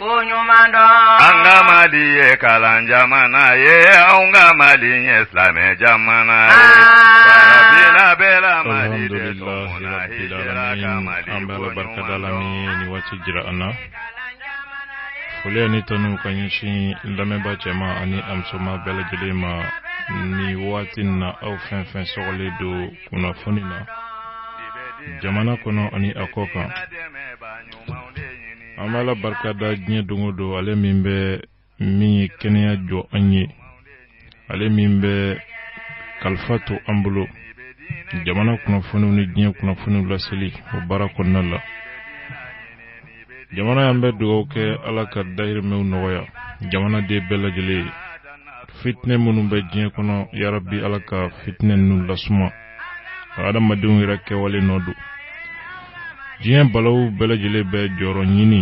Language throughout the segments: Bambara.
ko ɲuman dɔn an ka mali ye kalan jamana ye anw ka mali ye silamɛ jamana ye an b'ala barika da ala min ye nin waati jira an na. foli ani tanu ka ɲɛsin lamɛnba cɛman ani a musoman bɛɛ lajɛlen ma nin waati na aw fɛn fɛn sɔgɔlen don kunnafoni na jamana kɔnɔ ani a kɔ kan an b'ala barika da diɲɛ don o don ale min bɛ min ye kɛnɛya jɔ an ye ale min bɛ kalifa to an bolo jamana kunnafoniw ni diɲɛ kunnafoniw laseli o baara kɔnɔna la jamana ye an bɛ dugawu kɛ ala ka dahirimɛw nɔgɔya jamana den bɛɛ lajɛlen ye fitinɛ minnu bɛ diɲɛ kɔnɔ yarabi ala ka fitinɛ ninnu lasuma adamadenw yɛrɛ kɛwale nɔ don diɲɛ balaw bɛɛ lajɛlen bɛ jɔyɔrɔ ɲini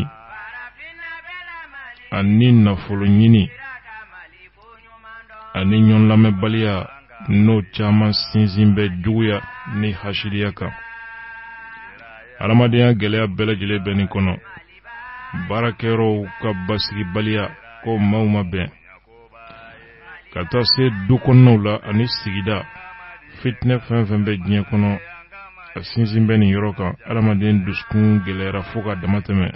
ani nafolo ɲini ani ɲɔgɔn lamɛnbaliya n'o caman sinsin bɛ juguya ni hasiliya kan adamadenya gɛlɛya bɛɛ lajɛlen bɛ nin kɔnɔ baarakɛyɔrɔw ka basigibaliya ko maaw ma bɛn ka taa se du kɔnɔnaw la ani sigida fitinɛ fɛn fɛn bɛ diɲɛ kɔnɔ a sinsin bɛ nin yɔrɔ kan adamaden dusukun gɛlɛyara fo ka dama tɛmɛ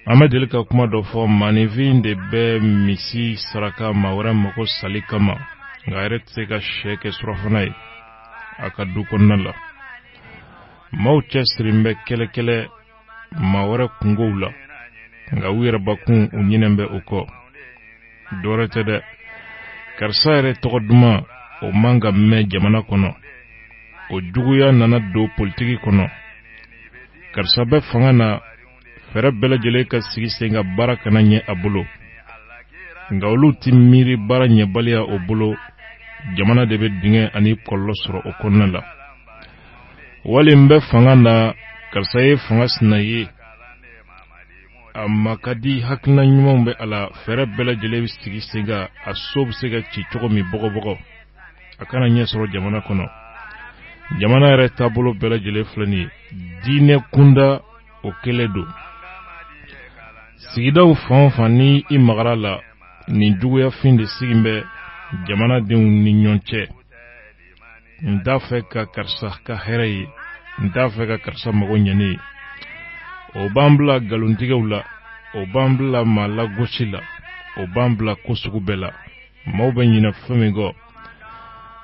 an bɛ deli ka kuma dɔ fɔ maaninfin de bɛ misi saraka maa wɛrɛ magosali kama nka a yɛrɛ tɛ se ka syɛ kɛ surafana ye a ka du kɔnɔna la maaw cɛsirilen bɛ kɛlɛkɛlɛ maa wɛrɛ kunkow la nka u yɛrɛ bakun u ɲinɛn bɛ o kɔ dɔwɛrɛ tɛ dɛ karisa yɛrɛ tɔgɔ duman o man ka mɛn jamana kɔnɔ o juguya nana don politiki kɔnɔ karisa bɛ fanga na fɛɛrɛ bɛɛ lajɛlen ka sigi sen kan baara kana ɲɛ a bolo nka olu tɛ miiri baara ɲɛbaliya o bolo jamana de bɛ dingɛ ani kɔlɔlɔ sɔrɔ o kɔnɔna la wali n bɛ fanga na karisa ye fanga sina ye a maa ka di hakilina ɲumanw bɛ a la fɛɛrɛ bɛɛ lajɛlen bɛ sigi sen kan a so bɛ se ka ci cogo min bɔgɔbɔgɔ a kana ɲɛ sɔrɔ jamana kɔnɔ jamana yɛrɛ taabolo bɛɛ lajɛlen filɛ nin ye diinɛ kunda o kelen don sigidaw fan o fan ni i magara a la nin juguyafin de sigin bɛ jamanadenw ni ɲɔgɔn cɛ n t'a fɛ ka karisa ka hɛrɛ ye n t'a fɛ ka karisa mago ɲɛnen ye o b'an bila galontigɛw la o b'an bila maa lagosi la o b'an bila ko sugu bɛɛ la maaw bɛ ɲinɛ fɛn min kɔ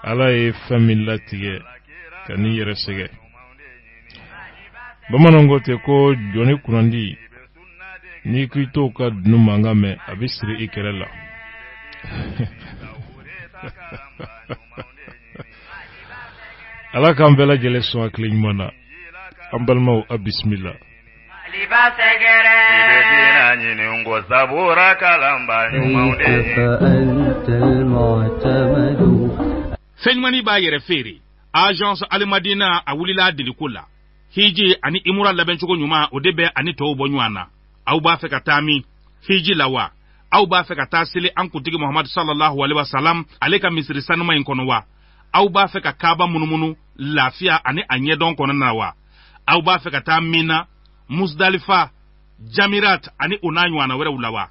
ala ye fɛn min latigɛ kan'i yɛrɛ sɛgɛn bamananw ko ten ko jɔni kunnandi n'i k'i to ka dunun mankan mɛn a bɛ siri i kɛrɛ la ala k'an bɛɛ lajɛlen sɔn a kelen ɲuman na an balimaw a bisimila Liba sɛgɛrɛ bɛna ɲini ko sabura kalanba ɲumanw de fɛn ɲumanin b'a yɛrɛ feere agence alimadina a wulila a deliko la hiji ani imura labɛncogo ɲuman o de bɛ a ni tɔw bɔ ɲɔgɔn na aw b'a fɛ ka taa min hiji la wa aw b'a fɛ ka taa seli an kuntigi muhamadu sallallahu alaihi wasallam ale ka misiri saniman in kɔnɔ wa aw b'a fɛ ka kaaba munumunu lafiya ani a ɲɛdɔn kɔnɔna wa aw b'a fɛ ka taa mina musdalifa jamirat ani o n'a ɲɔgɔnna wɛrɛw la wa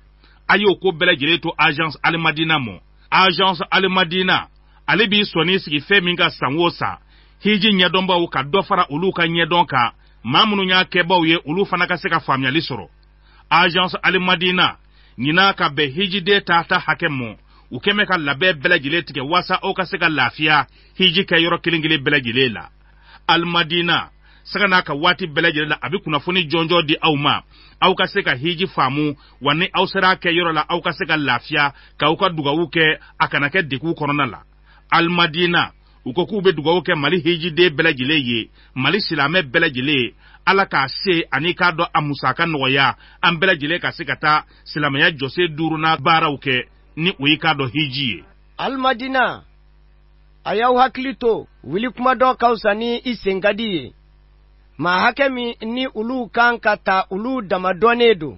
a y'o ko bɛɛ lajɛlen to agence alimadina mɔ agence alimadina ale b'i sɔnin sigi fɛn min kan san o san hiji ɲɛdɔnbaw ka dɔ fara olu ka ɲɛdɔn kan maa minnu y'a kɛbaw ye olu fana ka se ka faamuyali sɔrɔ agence alimadina ɲina ka bɛn hijiden taata hakɛ mɔ u kɛmɛ ka labɛn bɛɛ lajɛlen tigɛ waasa aw ka se ka lafiya hiji kɛ yɔrɔ kelen kelen bɛɛ lajɛlen la alimadina sanga n'a ka waati bɛɛ lajɛlen la a bɛ kunnafoni jɔnjɔ di aw ma aw ka se ka hiji faamu wa ni aw sera a kɛ yɔrɔ la aw ka se ka lafiya k'aw ka dugawu kɛ a kana kɛ degun kɔnɔna la alimadina u ko k'u bɛ dugawu kɛ mali hijiden bɛɛ lajɛlen ye mali silamɛ bɛɛ lajɛlen ye ala k'a se ani k'a dɔn a musaka nɔgɔya an bɛɛ lajɛlen ka se ka taa silamɛya jɔsen duurunan baaraw kɛ ni o ye k'a dɔn hiji ye alimadina a y'aw hakili to wuli kuma dɔn ka fisa ni i sen ka di ye maa hakɛ min ni olu ka kan ka taa olu dama dɔnnen don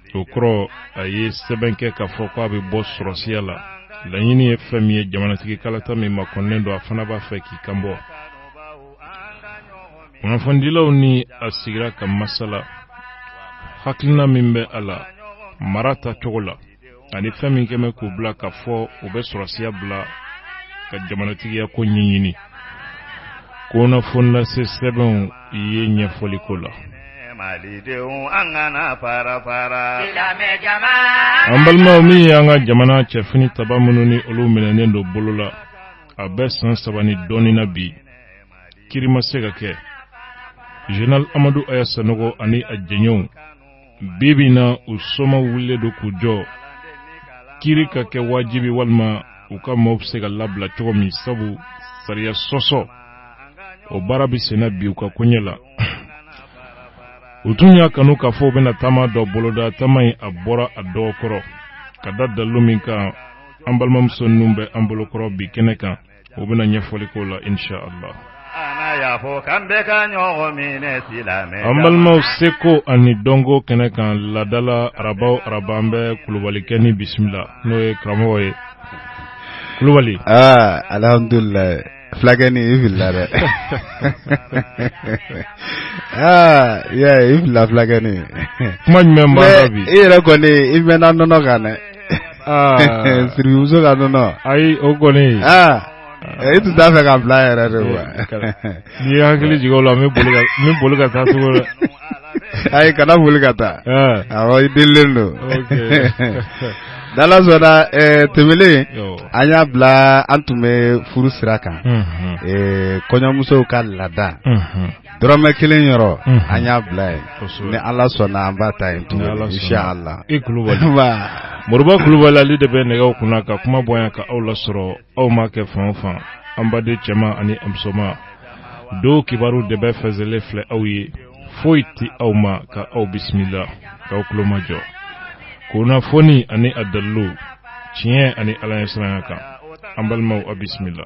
o kɔrɔ a ye sɛbɛn kɛ k'a fɔ ko a bɛ bɔ sɔrɔsiya la laɲini ye fɛn min ye jamanatigi kalata min makɔnɔnen don a fana b'a fɛ k'i kan bɔ kunnafonidilaw ni a sigira ka masala hakilina min bɛ a la mara ta cogo la ani fɛn min kɛmɛ k'u bila k'a fɔ u bɛ sɔrɔsiya bila ka jamanatigiya ko ɲɛɲini kunnafoni lase sɛbɛnw I ye ɲɛfɔli ko la malidenw an kana fara fara an balimaw min y'an ka jamana cɛ finitabaa minnu ni olu minɛnen don bolo la a bɛ san saba ni dɔɔni na bi kiri ma se ka kɛ zenerali amadu aya sanɔgɔ ani a jɛɲɔgɔnw bi bi in na u somaaw wulilen don k'u jɔ kiri ka kɛ wajibi walima u ka maaw bɛ se ka labila cogo min sabu sariya sɔsɔ o baara bɛ senna bi u ka koɲɛ la u tun y'a kanu k'a fɔ u bɛna taama dɔ boloda taama in a bɔra a dɔgɔ kɔrɔ ka da dalilu min kan an balimamuso ninnu bɛ an bolokɔrɔ bi kɛnɛ kan o bɛna ɲɛfɔli ko la insha Allah an balimaw seko ani dɔnko kɛnɛ kan laada la araba o araba an bɛ kulubalikɛ nin bisimila n'o ye karamɔgɔ ye kulubali aa alhamdulilayi fulakɛ ni i filila dɛ aa i y'a ye i filila fulakɛ ni kuma jumɛn b'a la bi i yɛrɛ kɔni i mɛnna nɔnɔ kan dɛ sidibemuso ka nɔnɔ ayi o kɔni e tun t'a fɛ k'a bila yɛrɛ de wa n'i ye hakili jigin la min boli ka taa cogo la ayi kana boli ka taa awɔ i delilen don n'ala sɔnna tɛmɛlen an y'a bila an tun bɛ furu sira kan kɔɲɔmusow ka laada dɔrɔmɛ kelen yɔrɔ an y'a bila yen ni ala sɔnna an b'a ta yen tun ala i kulubali moriba kulubali ale de bɛ nɛgɛ kunna ka kuma bɔ yan ka aw lasɔrɔ aw maa kɛ fan o fan an baden cɛman ani musoman don kibaru dɛbɛn fɛnsɛlen filɛ aw ye foyi tɛ aw ma ka aw bisimila k'aw tulomajɔ kunnafoni ani a dalilu tiɲɛ ani ala ɲɛsiranya kan an balimaw aw bisimila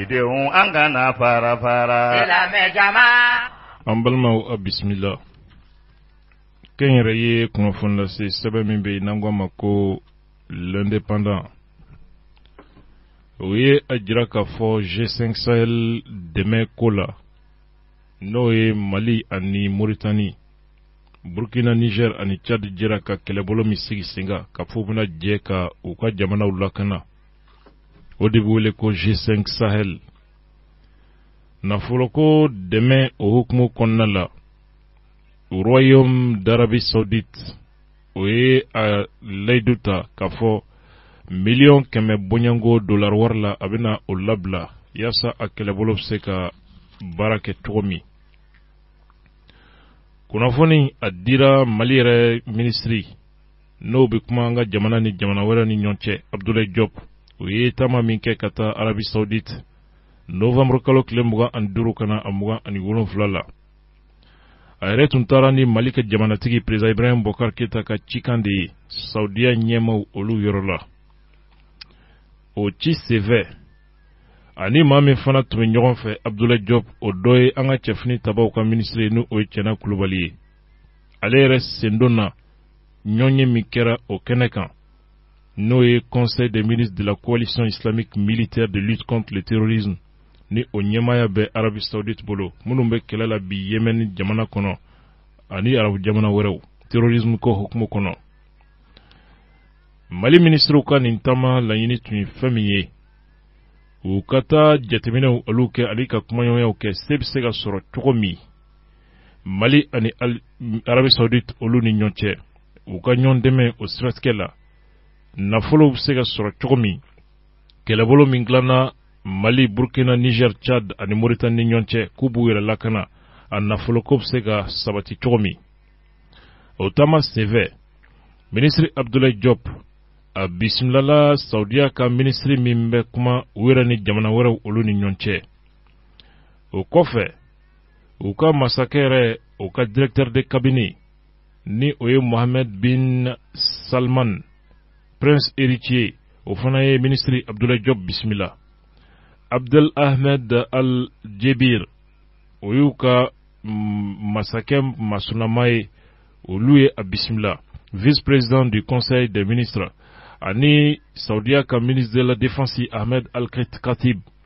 Denw an ka na fara fara silamɛ jama. An balimaw a bisimila kɛnyɛrɛye kunnafoni lase sɛbɛn min bɛ yen n'an k'a ma ko l'indépendant o ye a jira k'a fɔ G5 Sahel dɛmɛ ko la n'o ye Mali ani Mauritanie Burkina Niger ani Tchad jɛra ka kɛlɛbolo min sigi sen kan k'a fɔ u bɛna jɛ ka u ka jamanaw lakana o de bɛ wele ko G5 Sahel nafoloko dɛmɛ o hukumu kɔnɔna la Royaume d'Arabie Saoudite o ye a layidu ta k'a fɔ miliyɔn kɛmɛ bɔɲɔgɔnko dolari wari la a bɛna o labila yaasa a kɛlɛbolo bɛ se ka baara kɛ cogo min kunnafoni a dira mali yɛrɛ minisiri n'o bɛ kuma an ka jamana ni jamana wɛrɛ ni ɲɔgɔn cɛ abudulayi jɔpu o ye taama min kɛ ka taa arabi sawudite novanburu kalo tile mugan ani duuru ka na a mugan ani wolonwula la a yɛrɛ tun taara ni mali ka jamanatigi perezidan ibrahim bɔkari keyita ka cikan de ye sawudiya ɲɛmaw olu yɔrɔ la o ci senfɛ ani maa min fana tun bɛ ɲɔgɔn fɛ abudulayi jɔpu o dɔ ye an ka cɛfini tabaw ka minisiri ye ni o ye cɛna kulubali ye ale yɛrɛ sen donna ɲɔgɔnye min kɛra o kɛnɛ kan n'o ye conseil des ministres de la coalition islamique militaire de lutte contre le terrorisme ni o ɲɛmaaya bɛ Arabie saoudite bolo minnu bɛ kɛlɛ la bi Yemen jamana kɔnɔ ani arabu jamana wɛrɛw terrorisme ko hukumu kɔnɔ mali minisiriw ka nin taama laɲini tun ye fɛn min ye u ka taa jateminɛw olu kɛ ani ka kumaɲɔgɔnyaw kɛ se bɛ se ka sɔrɔ cogo min mali ani Arabie saoudite olu ni ɲɔgɔn cɛ u ka ɲɔgɔn dɛmɛ o siratigɛ la nafolo bɛ se ka sɔrɔ cogo min kɛlɛbolo min dilanna mali burkina niger tchad ani moritani ni ɲɔgɔn cɛ k'u b'u yɛrɛ lakana a nafoloko bɛ se ka sabati cogo min o taama senfɛ minisiri abdulayi jɔp a bisimilala saudiya ka minisiri min bɛ kuma u yɛrɛ ni jamana wɛrɛw olu ni ɲɔgɔn cɛ o kɔfɛ u ka masakɛ yɛrɛ u ka directeur de cabinet ni o ye mohamed bin salman prince héritier o fana ye minisiri abdulayi jɔp bisimila abdel ahmed al jubeir o y'u ka mm, masakɛ masunama ye olu ye a bisimila vice président du conseil des ministres ani saudiya ka ministre de la défense ahmed al khatib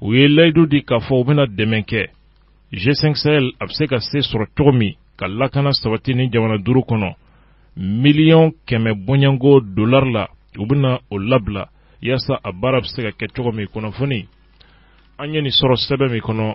u ye layidu di k'a fɔ u bɛna dɛmɛ kɛ g5 sahel a bɛ se ka se sɔrɔ cogo min ka lakana sabati nin jamana duuru kɔnɔ miliyɔn kɛmɛ bɔɲɔgɔnko dolar la u bɛna o labila yaasa a baara bɛ se ka kɛ cogo min kunnafoni an ye nin sɔrɔ sɛbɛn min kɔnɔ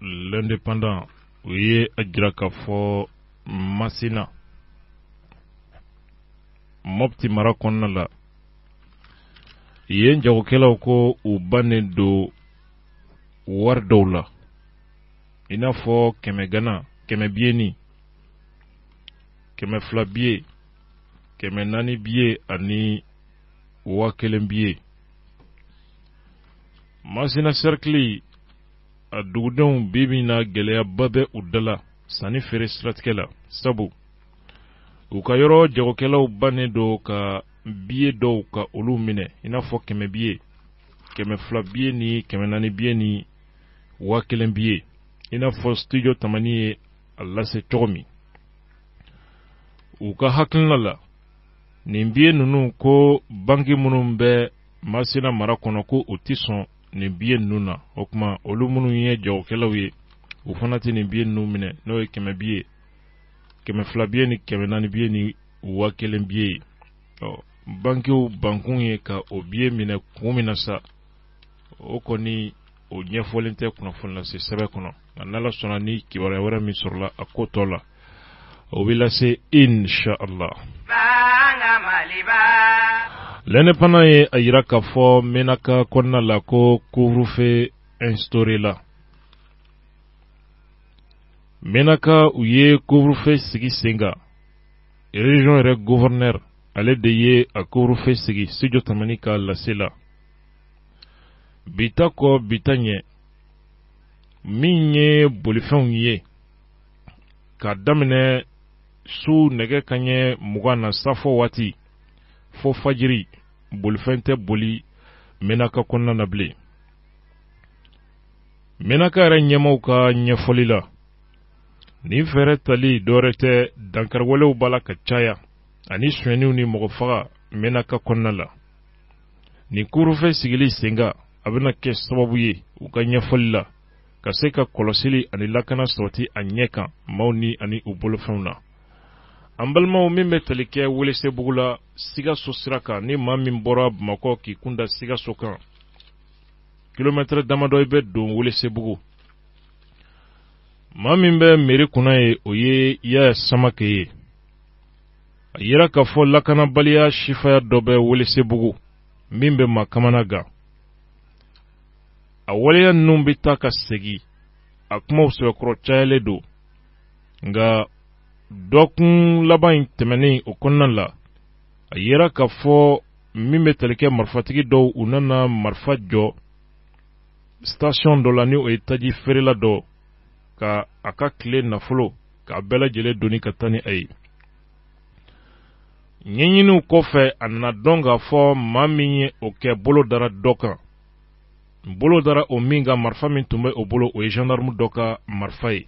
l'indépendant o ye a jira k'a fɔ masina mopti mara kɔnɔna la yen jagokɛlaw ko u bannen don wari dɔw la i n'a fɔ kɛmɛ ganan kɛmɛ biyenin kɛmɛ fila biye kɛmɛ naani biye ani waa kelen biye masina sɛrikili a dugudenw bi min na gɛlɛyaba bɛ u da la sanni feere siratigɛ la sabu u ka yɔrɔ jagokɛlaw bannen don ka biye dɔw ka olu minɛ i n'a fɔ kɛmɛ biye kɛmɛ fila biye ni kɛmɛ naani biye ni waa kelen biye i n'a fɔ studio tamani ye a lase cogo min u ka hakilina la nin biye ninnu ko banki minnu bɛ masina mara kɔnɔ ko u tɛ sɔn nin biye ninnu na o tuma olu minnu ye jagokɛlaw ye u fana tɛ nin biye ninnu minɛ n'o ye kɛmɛ biye kɛmɛ fila biye ni kɛmɛ naani biye ni waa kelen biye ye ɔ bankiw bankun ye ka o biye minɛ kun min na sa o kɔni o ɲɛfɔlen tɛ kunnafonilase sɛbɛn kɔnɔ A n'Ala sɔnna ni kibaruya wɛrɛ min sɔrɔla a ko tɔ la o bɛ lase inshallah ne fana ye a jira k'a fɔ Menaka kɔnɔna la ko couvre-feu instauré la Menaka u ye couvre-feu sigi sen kan région yɛrɛ gouverneur ale de ye a couvre-feu sigi sij tɛmɛn ka lasesi la bita kɔ bita ɲɛ min ye bolifɛnw ye k'a daminɛ su nɛgɛ kan ɲɛ mugan na safo waati fo fajiri bolifɛn tɛ boli menaka kɔnɔna na bilen menaka yɛrɛ ɲɛmaaw ka ɲɛfɔli la nin fɛɛrɛ tali dɔwɛrɛ tɛ dankariwalew b'a la ka caya ani sonyɛniw ni mɔgɔ faga menaka kɔnɔna la nin couvre-feu sigili sen kan a bɛna kɛ sababu ye u ka ɲɛfɔli la ka se ka kɔlɔsili ani lakana sabati a ɲɛ kan maaw ni ani u bolofɛnw na an balimaw min bɛ tali kɛ welesebugu la sikaso sira kan ni maa min bɔra bamakɔ k'i kun da sikaso kan kilomɛtɛrɛ damadɔ i bɛ don welesebugu maa min bɛ mɛri kunna ye o ye yaya samake ye a yira k'a fɔ lakanabaliya sifaya dɔ bɛ welesebugu min bɛ maa kamanagan a waleya ninnu bɛ taa ka segin a kumaw sɛbɛkɔrɔ cayalen don nka dɔkun laban in tɛmɛnen o kɔnɔna la a yira k'a fɔ min bɛ tali kɛ marifatigi dɔw u nana marifa jɔ station dɔ la ni o ye taji feerela dɔ ka a ka tile nafolo k'a bɛɛ lajɛlen doni ka taa ni a ye ɲɛɲiniw kɔfɛ a nana dɔn k'a fɔ maa min ye o kɛ bolo dara dɔ kan bolo dara o min kan marifa min tun bɛ o bolo o ye gendarme dɔ ka marifa ye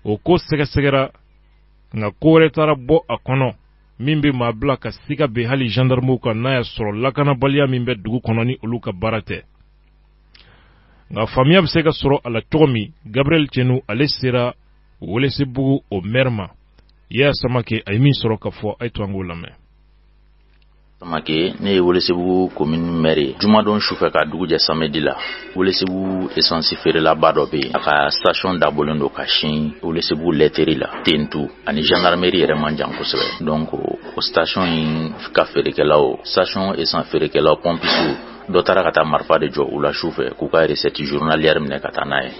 o ko sɛgɛsɛgɛra nka ko wɛrɛ taara bɔ a kɔnɔ min bɛ maa bila ka siga bin hali gendarmew kan n'a y'a sɔrɔ lakanabaliya min bɛ dugu kɔnɔ ni olu ka baara tɛ nka faamuya bɛ se ka sɔrɔ a la cogo min gabriel cenu ale sera Welesebugu o mɛri Yaya Samake a ye min sɔrɔ ka fɔ a ye to an k'o lamɛn Samake ne ye Welesebugu komini mɛri ye jumadon sufɛ ka dugu jɛ samedi la Welesebugu esansi feerelaba dɔ bɛ yen a ka station dabɔlen don ka sin Welesebugu l'entrée la Tentu ani gendarmerie yɛrɛ man jan kosɛbɛ donc o station in ka feerekɛlaw station esansi feerekɛlaw pɔmpisiw dɔ taara ka taa marifa de jɔ u la sufɛ k'u ka recette journalière minɛ ka taa n'a ye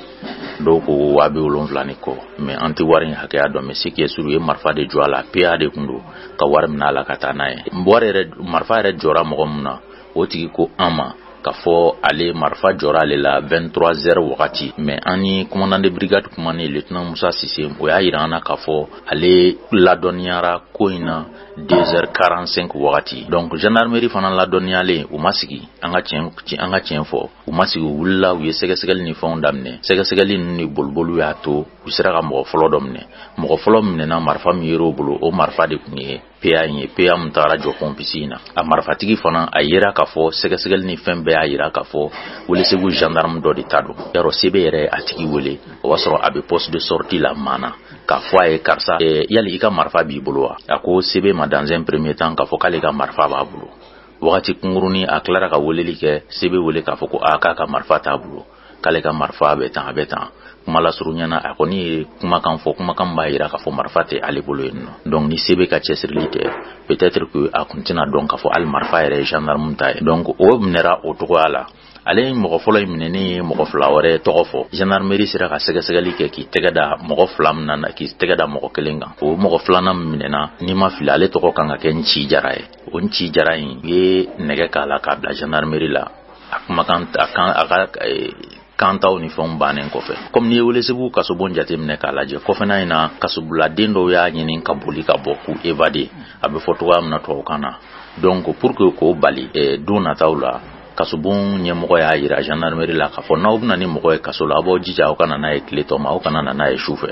dɔw ko waa bi wolonwula ni kɔ mais an tɛ wari in hakɛya dɔn mais ce qui est sûr u ye marifa de jɔ a la PA de kun don ka wari minɛ a la ka taa n'a ye wari yɛrɛ marifa yɛrɛ jɔra mɔgɔ min na o tigi ko an ma k'a fɔ ale marifa jɔra ale la 23 heures wagati mais an ni commandant de brigade kumanen lieutenant musa sise o y'a yira an na k'a fɔ ale ladɔnniyara ko in na 2h45 wagati donc gendarmerie fana ladɔnniyalen u ma sigi an ka tiɲɛ fɔ u ma sigi u wulila u ye sɛgɛsɛgɛli ni fɛnw daminɛ sɛgɛsɛgɛli ninnu ni boliboliw y'a to u sera ka mɔgɔ fɔlɔ dɔ minɛ mɔgɔ fɔlɔ minɛna marifa min yer'o bolo o marifa de tun ye PA in ye PA min tagara jɔ pompiste in na a marifatigi fana a yera k'a fɔ sɛgɛsɛgɛli ni fɛn bɛɛ y'a yira k'a fɔ welesebugu gendarme dɔ de ta don alors CB yɛrɛ y'a tigi wele o b'a sɔrɔ a bɛ poste de sortie la maana k'a fɔ a ye karisa yali i ka marifa b'i bolo wa a ko CB ma dans un premier temps k'a fɔ k'ale ka marifa b'a bolo wagati kunkurunin a tilara ka weleli kɛ CB wele k'a fɔ ko a k'a ka marifa t'a bolo k'ale ka marifa bɛ tan a bɛ tan kuma lasurunya na a kɔni ye kumakan fɔ kumakan b'a yira k'a fɔ marifa tɛ ale bolo yen nɔ donc ni CB ka cɛsirili tɛ peut-être que a kun tɛna dɔn k'a fɔ hali marifa yɛrɛ ye gendarme ta ye donc o minɛra o cogoya la ale ye mɔgɔ fɔlɔ in minɛnen ye mɔgɔ fila wɛrɛ tɔgɔ fɔ gendarmerie sera ka sɛgɛsɛgɛli kɛ k'i tɛgɛ da mɔgɔ fila min na k'i tɛgɛ da mɔgɔ kelen kan o mɔgɔ filanan min minɛna ni n ma fili ale tɔgɔ kan ka kɛ nci jara ye o nci jara in ye nɛgɛ k'a la k'a bila gendarmerie la a kumakan a kan a ka eh, kantaw ni fɛnw bannen kɔfɛ kɔmi n'i ye welesebugu kasobon jateminɛ k'a lajɛ kɔfɛna in na kasobuladen dɔw y'a ɲini ka boli ka bɔ k'u evade a bɛ fɔ cogoya min na tubabukan na donc pour que k'o bali eh, don nataw la kasobon ɲɛmɔgɔ y'a yira gendarmerie la k'a fɔ n'aw bɛ na ni mɔgɔ ye kaso la aw b'aw jija aw ka na n'a ye tile tɔ ma aw kana na n'a ye su fɛ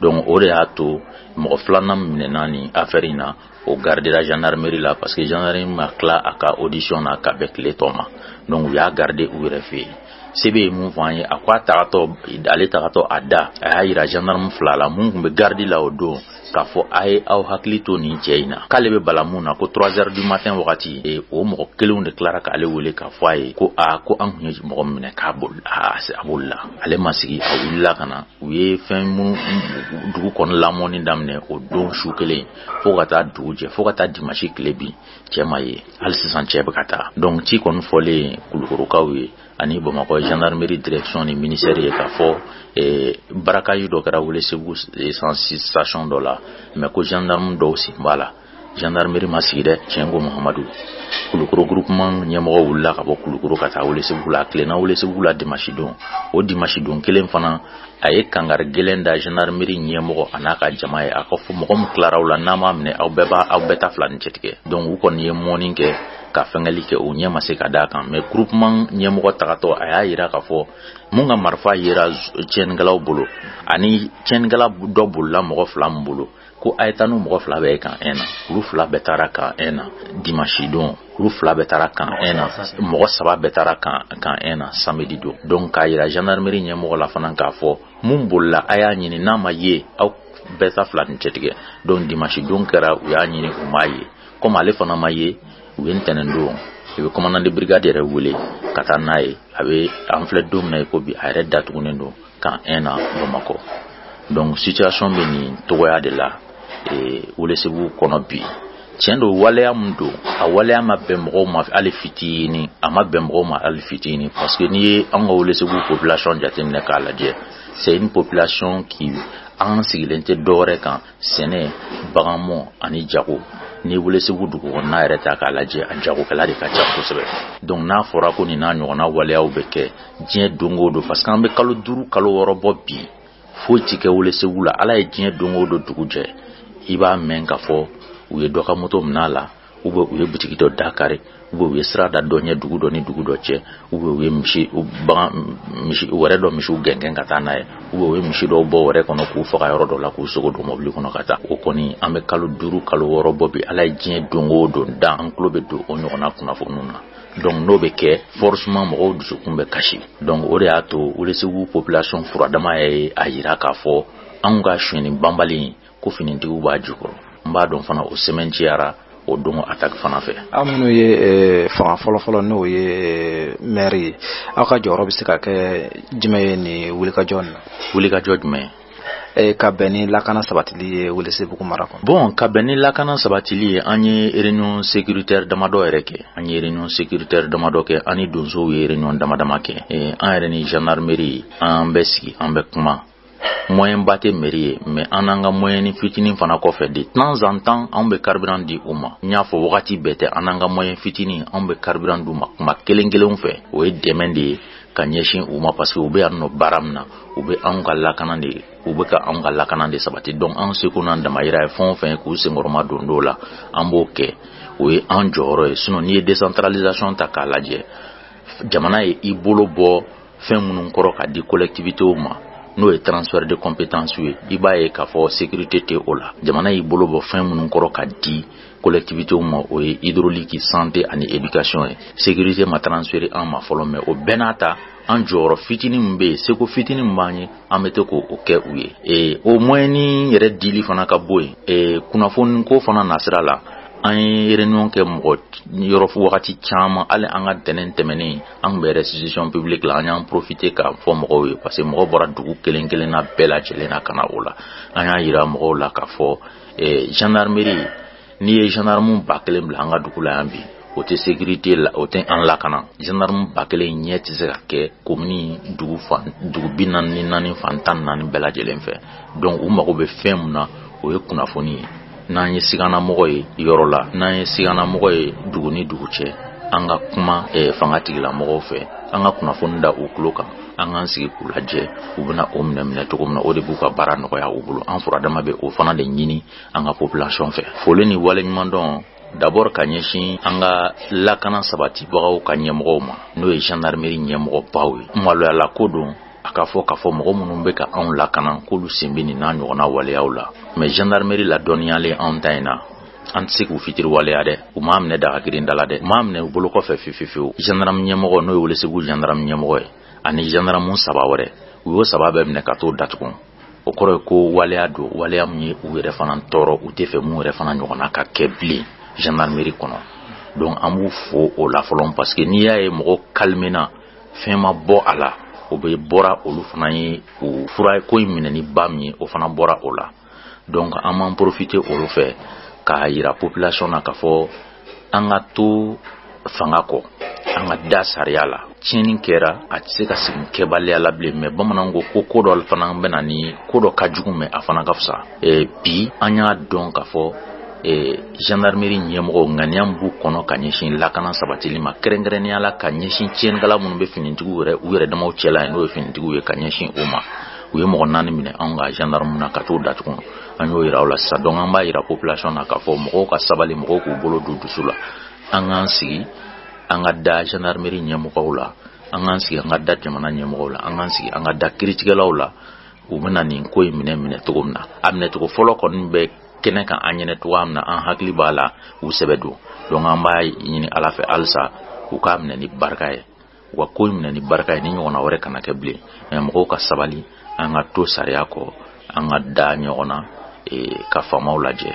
donc o de y'a to mɔgɔ filanan minɛna nin afɛri in na o gardera gendarmerie la parce que gendarmerie ma tila a ka audition na ka bɛn tile tɔ ma donc u y'a garde u yɛrɛ fɛ yen CB ye min fɔ an ye a ko a tagatɔ ale tagatɔ a da a y'a yira gendarme fila la minnu tun bɛ garde la o don k'a fɔ a ye aw hakili to nin cɛ in na k'ale bɛ bala min na ko 3 heures du matin wagati e, o mɔgɔ kelenw de tilara k'ale wele k'a fɔ a ye ko a ko an tun ye mɔgɔ minɛ k'a boli a bolila ale ma sigi a wulila ka na u ye fɛn minnu dugu kɔnɔ lamɔni daminɛ o don su kelen fo ka taa dugu jɛ fo ka taa dimasi tile bin cɛ ma ye hali sisan cɛ bɛ ka taa donc ci kɔni fɔlen kulukorokaw ye ani bamakɔ gendarmerie direction ni ministère ye k'a fɔ eh, braquage dɔ kɛra welesebugu eh, station dɔ la mais ko gendarme dɔw sen b'a la gendarmerie ma sigi dɛ tiɲɛ ko mahamadu kulukoro groupement ɲɛmɔgɔ wulila ka bɔ kulukoro ka taa welesebugu la a tilenna welesebugu la dimasi don o dimasi don kelen fana a ye kangari gɛlɛn da gendarmerie ɲɛmɔgɔ a n'a ka jama ye a k'a fɔ mɔgɔ min tilara u la n'a m'a minɛ aw bɛɛ b'a aw bɛɛ ta fila ni cɛtigɛ donc u kɔni ye mɔni kɛ ka fɛngɛli kɛ u ɲɛ ma se ka d'a kan mais groupement ɲɛmɔgɔ tagatɔ a y'a yira k'a fɔ min ka marifa yera tiɲɛnikɛlaw bolo ani tiɲɛnikɛla dɔ bolila mɔgɔ fila min bolo ko a ye taa n'u mɔgɔ fila bɛɛ ye camp un na olu fila bɛɛ taara camp un na dimansi don olu fila bɛɛ taara camp un na mɔgɔ saba bɛɛ taara camp camp un na samedi don donc k'a yira gendarmerie ɲɛmɔgɔ la fana k'a fɔ min bolila a y'a ɲini n'a ma ye aw bɛɛ ta fila ni cɛtigɛ donc dimansi don kɛra u y'a ɲini u m'a ye komi ale fana ma ye u ye ntɛnɛn don CB commandant de brigade yɛrɛ wele ka taa n'a ye a bɛ an filɛ don min na i ko bi a yɛrɛ datugunen don camp un na bamakɔ donc situation bɛ nin cogoya de la eh, welesebugu kɔnɔ bi tiɲɛ don waleya min don a waleya ma bɛn mɔgɔw ma hali fitini a ma bɛn mɔgɔw ma hali fitini parce que n'i ye an ka welesebugu population jateminɛ k'a lajɛ c'est une population qui an sigilen tɛ dɔwɛrɛ kan sɛnɛ baganmɔ ani jago n'i welesebugu dugu kɔnɔna yɛrɛ ta k'a lajɛ a jagokɛla de ka ca kosɛbɛ donc n'a fɔra ko nin n'a ɲɔgɔnna waleyaw bɛ kɛ diɲɛ don o don parce que an bɛ kalo duuru kalo wɔɔrɔ bɔ bi foyi tɛ kɛ welesebugu la ala ye diɲɛ don o don dugu jɛ i b'a mɛn k'a fɔ u ye dɔ ka moto minɛ a la u bɛ u ye bitigi dɔ da kari u bɛ u ye sira da dɔ ɲɛ dugu dɔ ni dugu dɔ cɛ u bɛ u ye misi bagan misi wɛrɛ dɔ misiw gɛngɛn ka taa n'a ye u bɛ u ye misi dɔw bɔ wɛrɛ kɔnɔ k'u faga yɔrɔ dɔ la k'u sogo don mɔbili kɔnɔ ka taa o kɔni an bɛ kalo duuru kalo wɔɔrɔ bɔ bi ala ye diɲɛ don o don dan an tulo bɛ don o ɲɔgɔnna kunnafoniw na donc n'o bɛ kɛ forcement mɔgɔw dusukun bɛ kasi donc o de y'a to Welesebugu population furadama ye a yira k'a fɔ anw ka sonyani banbali ko finitigiw b'a jukɔrɔ n b'a dɔn fana o sɛmɛntiyara o don a ta fan fɛ aw minnu ye eh, fanga fɔlɔfɔlɔ n'o ye eh, mɛri ye aw ka jɔyɔrɔ bɛ se ka kɛ jumɛn ye nin wulikajɔ na wulikajɔ jumɛn eh, ka bɛn ni lakana sabatili ye welesebugu mara kɔnɔ bɔn ka bɛn ni lakana sabatili ye an ye réunion sécuritaire damadɔ yɛrɛ kɛ an ye réunion sécuritaire damadɔ kɛ an ni donsow ye réunion damadama kɛ an yɛrɛ ni gendarmerie an bɛ sigi an bɛ kuma moyenba tɛ mɛri ye mais an n'an ka moyɛni fitinin fana kɔfɛ de temps en temps anw bɛ carburant di u ma n y'a fɔ wagati bɛɛ tɛ an n'an ka moyen fitinin anw bɛ carburant d'u ma tuma kelen kelenw fɛ o ye dɛmɛ de ye ka ɲɛsin u ma parce que u bɛ yan nɔ baara min na u bɛ anw ka lakana de u bɛ ka anw ka lakana de sabati donc anw seko n'an damayira ye fɛn o fɛn ye k'u senkɔrɔma don dɔw la an b'o kɛ o ye an jɔyɔrɔ ye sinon n'i ye décentralisation ta k'a lajɛ jamana ye i bolo bɔ fɛn minnu kɔrɔ ka di collectivitéw ma n'o ye transfert de compétence ye i b'a ye k'a fɔ sécurité tɛ o la jamana y'i bolo bɔ fɛn minnu kɔrɔ ka di collectivitéw ma o ye hydraulique santé ani éducation ye sécurité ma transféré an ma fɔlɔ mais o bɛɛ n'a ta an jɔyɔrɔ fitinin min bɛ yen seko fitinin min b'an ye an bɛ to k'o kɛ u ye ee o moyen nin yɛrɛ dili fana ka bɔ yen ee kunnafoni ko fana nasira la an ye réunion kɛ mɔgɔ yɔrɔ wagati caman hali an ka ntɛnɛn tɛmɛnen an bɛ restitution publique la an y'an profité k'a fɔ mɔgɔw ye parce que mɔgɔ bɔra dugu kelen kelenna bɛɛ lajɛlen na ka na o la an y'a jira mɔgɔw la k'a fɔ gendarmerie n'i ye gendarme ba kelen bila an ka dugu la yan bi o tɛ sécurité la o tɛ an lakana gendarme ba kelen ɲɛ tɛ se ka kɛ commune dugu dugu bi naani naani fan tan ni naani bɛɛ lajɛlen fɛ donc u mago bɛ fɛn min na o ye kunnafoni ye n'an ye siganamɔgɔ ye yɔrɔ la n'an ye siganamɔgɔ ye dugu ni dugu cɛ an ka kuma eh, fanga tigilamɔgɔw fɛ an ka kunnafoni da u tulo kan an k'an sigi k'u lajɛ u bɛna o minɛ minɛ cogo min na o de b'u ka baara nɔgɔya u bolo an furadama bɛ o fana de ɲini an ka population fɛ foli ni waleɲumandɔn d'abord ka ɲɛsin an ka lakana sabatibagaw ka ɲɛmɔgɔw ma n'o ye gendarmerie ɲɛmɔgɔbaw ye maloyala ko don a k'a fɔ k'a fɔ mɔgɔ minnu bɛ ka anw lakana k'olu sen bɛ nin n'a ɲɔgɔnna waleyaw la mais gendarmerie ladɔnniyalen anw ta in na an tɛ se k'u fitiriwaleya dɛ u m'a minɛ daga girin da la dɛ u m'a minɛ u bolo kɔfɛ fefefewu gendarme ɲɛmɔgɔ n'o ye welesebugu gendarme ɲɛmɔgɔ ye ani gendarme saba wɛrɛ u y'o saba bɛɛ minɛ ka t'o datugu o kɔrɔ ye ko waleya don waleya min ye u yɛrɛ fana tɔɔrɔ u t'a fɛ min yɛrɛ fana ɲɔgɔnna ka kɛ bilen gendarmerie kɔnɔ donc an b'u fo o la fɔlɔ parce que n'i y'a ye mɔgɔ calména fɛn ma bɔ a la o bɛɛ bɔra olu fana ye o fura ko in minɛ ni ba min ye o fana bɔra o la donc an b'an profité olu fɛ k'a yira population na k'a fɔ an ka to fanga kɔ an ka da sariya la tiɲɛni kɛra a tɛ se ka segin kɛbaliya la bilen mais bamananw ko ko ko dɔ fana bɛna ni ko dɔ ka jugu mais a fana ka fisa bi an y'a dɔn k'a fɔ gendarmerie ɲɛmɔgɔ ŋaniya b'u kɔnɔ ka ɲɛsin lakana sabatili ma kɛrɛnkɛrɛnnenya la ka ɲɛsin tiɲɛnikɛla minnu bɛ finitigiw wɛrɛ u yɛrɛ damaw cɛ la n'o ye finitigiw ye ka ɲɛsin o ma u ye mɔgɔ naani minɛ anw ka gendarme na ka t'o datugu an y'o jira u la sa donc an b'a jira population na k'a fɔ mɔgɔw ka sabali mɔgɔw k'u bolo da u dusu la an k'an sigi an ka da gendarmerie ɲɛmɔgɔ la an k'an sigi an ka da jamana ɲɛmɔgɔ la an k'an sigi an ka da kiritigɛlaw la u bɛna nin ko in minɛ minɛ cogo min na a minɛcogo fɔlɔ kɔni bɛ kɛnɛ kan an ɲɛnɛ cogoya min na an hakili b'a la u sɛbɛ don donc an b'a ɲini ala fɛ halisa u k'a minɛ ni barika ye u ka ko in minɛ ni barika ye ni ɲɔgɔnna wɛrɛ kana kɛ bilen mais mɔgɔw ka sabali an ka to sariya kɔ an ka da ɲɔgɔn na e, ka faamaw lajɛ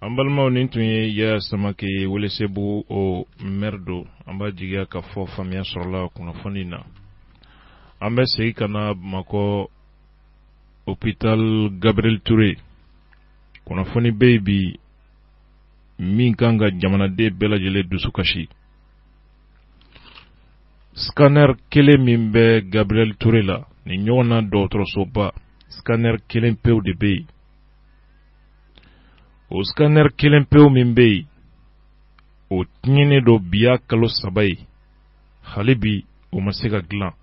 an balimaw nin tun ye yaya samake ye welesebugu o mɛri don an b'a jigiya ka fɔ faamuya sɔrɔla kunnafoni na an bɛ segin ka na bamakɔ hôpital gabriel toure kunnafoni bɛ yen bi min kan ka jamanaden bɛɛ lajɛlen dusu kasi scanner kelen min bɛ gabriel toure la nin ɲɔgɔn na dɔgɔtɔrɔsoba scanner kelen pew de bɛ yen o scanner kelen pewu min bɛ yen, o tiɲɛnen don bi y'a kalo saba ye, hali bi o ma se ka dilan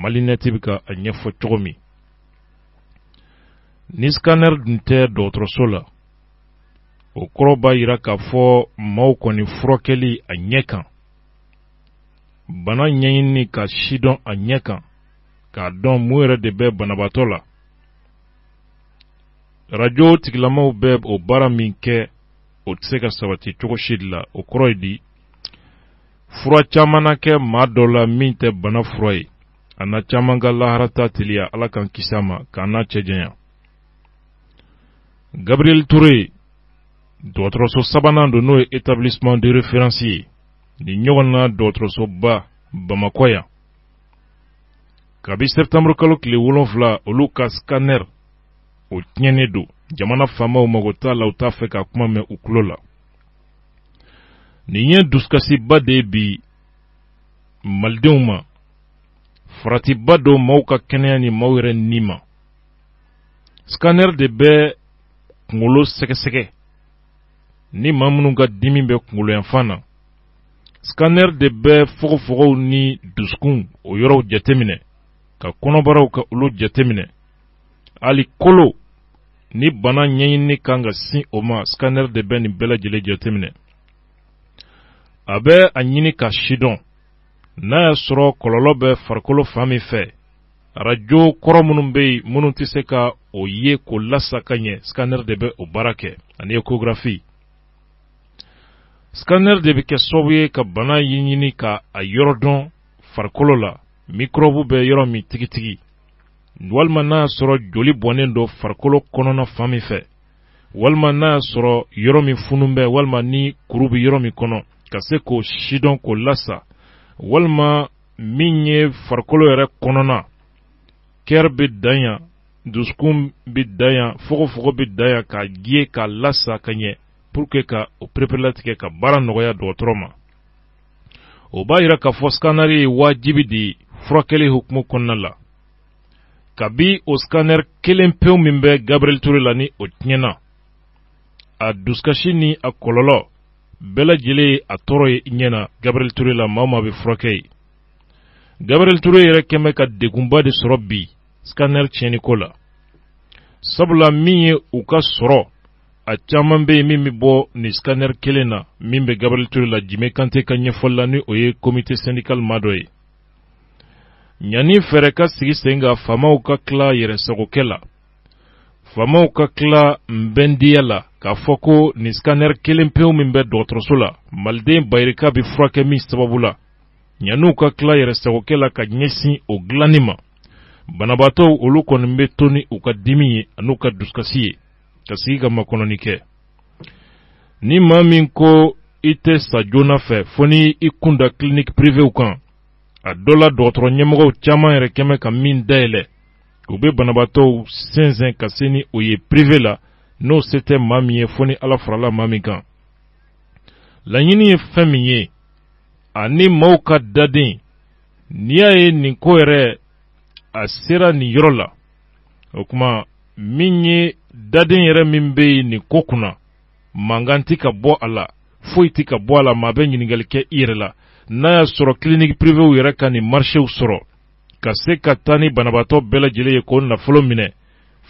Malinet bɛ ka a ɲɛfɔ cogo min, ni scanner dun tɛ dɔgɔtɔrɔso la, o kɔrɔ b'a jira k'a fɔ maaw kɔni furakɛli a ɲɛ kan, bana ɲɛɲinini k'a sidɔn a ɲɛ kan, k'a dɔn mun yɛrɛ de bɛ banabaatɔ la. arajo tigilamaaw bɛ o baara min kɛ o tɛ se ka sabati cogo si de la o kɔrɔ ye di fura caman na kɛ maa dɔ la min tɛ bana fura ye a na caman ka laharataa teliya ala k'an kisi a ma k'an n'a cɛ janya gabriel ture dɔgɔtɔrɔso sabanan don n'o ye établissement de référence ye nin ɲɔgɔn na dɔgɔtɔrɔsoba bamakɔ yan kabi septembre kalo tile wolonfila olu ka scanner o tiɲɛnen don jamana faamaw mago t'a la u t'a fɛ k'a kuma mɛn u tulo la nin ye dusukasiba de ye bi malidenw ma faratiba don maaw ka kɛnɛya ni maaw yɛrɛ ni ma scanner de bɛ kungolo sɛgɛsɛgɛ ni maa minnu ka dimi bɛ kungolo yanfan na scanner de bɛ fogofogow ni dusukun o yɔrɔw jateminɛ ka kɔnɔbaraw ka olu jateminɛ hali kolo ni bana ɲɛɲinini kan ka sin o ma scanner de bɛ nin bɛɛ lajɛlen jateminɛ a bɛ a ɲini k'a sidɔn n'a y'a sɔrɔ kɔlɔlɔ bɛ farikolo fan min fɛ arajo kɔrɔ minnu bɛ yen minnu tɛ se ka o ye k'o lasa ka ɲɛ scanner de bɛ o baara kɛ ani échographie Scanner de bɛ kɛ sababu ye ka bana ɲɛɲini ka a yɔrɔ dɔn farikolo la microbe bɛ yɔrɔ min tigitigi walima n'a y'a sɔrɔ joli bɔnnen don farikolo kɔnɔna fan min fɛ walima n'a y'a sɔrɔ yɔrɔ min funu bɛ walima ni kuru bɛ yɔrɔ min kɔnɔ ka se k'o sidɔn k'o lasa walima min ye farikolo yɛrɛ kɔnɔna kɛri bɛ dan yan dusukun bɛ dan yan fogofogo bɛ dan yan k'a ja ye k'a lasa ka ɲɛ pour que ka o pereperelatigɛ ka baara nɔgɔya dɔgɔtɔrɔ ma o b'a yira k'a fɔ scanner ye wajibi de ye furakɛli hukumu kɔnɔna la kabi o scanner kelen pewu min bɛ Gabriel Toure la ni o tiɲɛna a dusukasi ni a kɔlɔlɔ bɛɛ lajɛlen ye a tɔɔrɔ ye i ɲɛ na Gabriel Toure la maa o maa bɛ furakɛ yen Gabriel Toure yɛrɛ kɛ bɛ ka degunba de sɔrɔ bi scanner tiɲɛniko la sabula min ye u ka sɔrɔ a caman bɛ yen min bɛ bɔ nin scanner kelen na min bɛ Gabriel Toure la Jime Kante ka ɲɛfɔli la ni o ye comité syndical maa dɔ ye ɲani fɛɛrɛ ka sigi sen kan faamaw ka tila yɛrɛsagokɛ la faamaw ka tila nbɛndiya la k'a fɔ ko nin scanner kelen pewu min bɛ dɔgɔtɔrɔso la maliden bayirika bɛ furakɛ min sababu la ɲani u ka tila yɛrɛsagokɛ la ka ɲɛsin o dilanni ma banabaatɔw olu kɔni bɛ to ni u ka dimi ye an'u ka dusukasi ye ka sigi ka makɔnɔni kɛ ni maa min ko i tɛ sa joona fɛ fo ni i kun da clinique privew kan a dɔ la dɔgɔtɔrɔ ɲɛmɔgɔw caman yɛrɛ kɛ bɛ ka min dayɛlɛ u bɛ banabaatɔw sɛnsɛn ka se ni o ye prive la n'o se tɛ maa min ye fo ni ala farala maa min kan laɲini ye fɛn min ye ani maaw ka daden n'i y'a ye nin ko yɛrɛ a sera nin yɔrɔ la o kuma min ye daden yɛrɛ min bɛ yen nin ko kunna mankan tɛ ka bɔ a la foyi tɛ ka bɔ a la maa bɛ ɲininkali kɛ i yɛrɛ la n'a y'a sɔrɔ kiliniki privew yɛrɛ ka nin marisew sɔrɔ ka se ka taa ni banabaatɔ bɛɛ lajɛlen ye k'o nafolo minɛ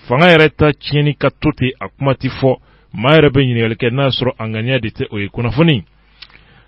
fanga yɛrɛ ta tiɲɛnen ka to ten a kuma tɛ fɔ maa yɛrɛ bɛ ɲininkali kɛ n'a y'a sɔrɔ a ŋaniya de tɛ o ye kunnafoni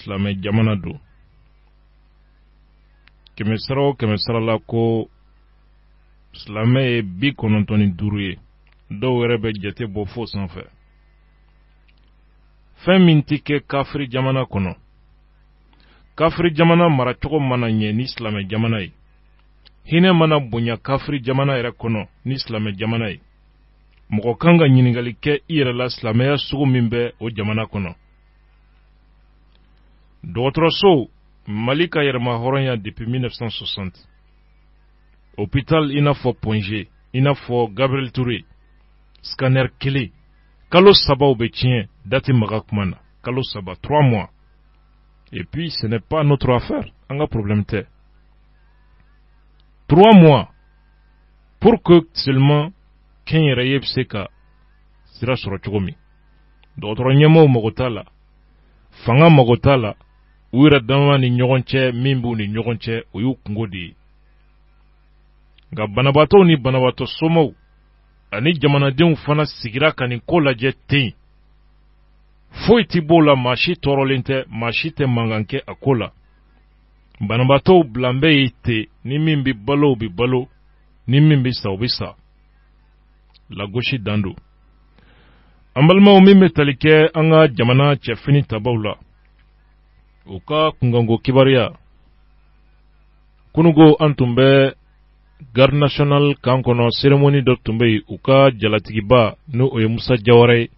silamɛ jamana don kɛmɛ sara o kɛmɛ sara la ko silamɛ ye bi kɔnɔntɔn ni duuru ye dɔw yɛrɛ bɛ jate bɔ fo sanfɛ fɛn min tɛ kɛ kafiri jamana kɔnɔ kafiri jamana maracogo mana ɲɛ ni silamɛ jamana ye hinɛ mana bonya kafiri jamana yɛrɛ kɔnɔ ni silamɛ jamana ye mɔgɔ kan ka ɲininkali kɛ i yɛrɛ la silamɛya sugu min bɛ o jamana kɔnɔ dɔgɔtɔrɔso mali ka yɛrɛmahɔrɔnya depuis 1960 hôpital i n'a fɔ Point G i n'a fɔ Gabriel Toure scanner kelen kalo saba o bɛ tiɲɛ da tɛ maga kuma na kalo saba 3 mois et puis ce n'est pas notre affaire an ka problème tɛ 3 mois pour que seulement kɛnyɛrɛye bɛ se ka sira sɔrɔ cogo min dɔgɔtɔrɔ ɲɛmɔgɔw mago t'a la fanga mago t'a la u yɛrɛ dama ni ɲɔgɔn cɛ min b'u ni ɲɔgɔn cɛ o y'u kungo de ye nka banabaatɔw ni banabaatɔ somɔgɔw ani jamanadenw fana sigira ka nin ko lajɛ ten foyi tɛ b'o la maa si tɔɔrɔlen tɛ maa si tɛ mankan kɛ a ko la banabaatɔw bilalen bɛ yen ten ni min bɛ balo o bɛ balo ni min bɛ sa o bɛ sa lagosi dan don an balimaw min bɛ tali kɛ an ka jamana cɛfini tabaw la u ka kunkanko kibaruya kununko an tun bɛ garde national kan kɔnɔ seremoni dɔ tun bɛ yen u ka jalatigiba n'o ye musa jawara ye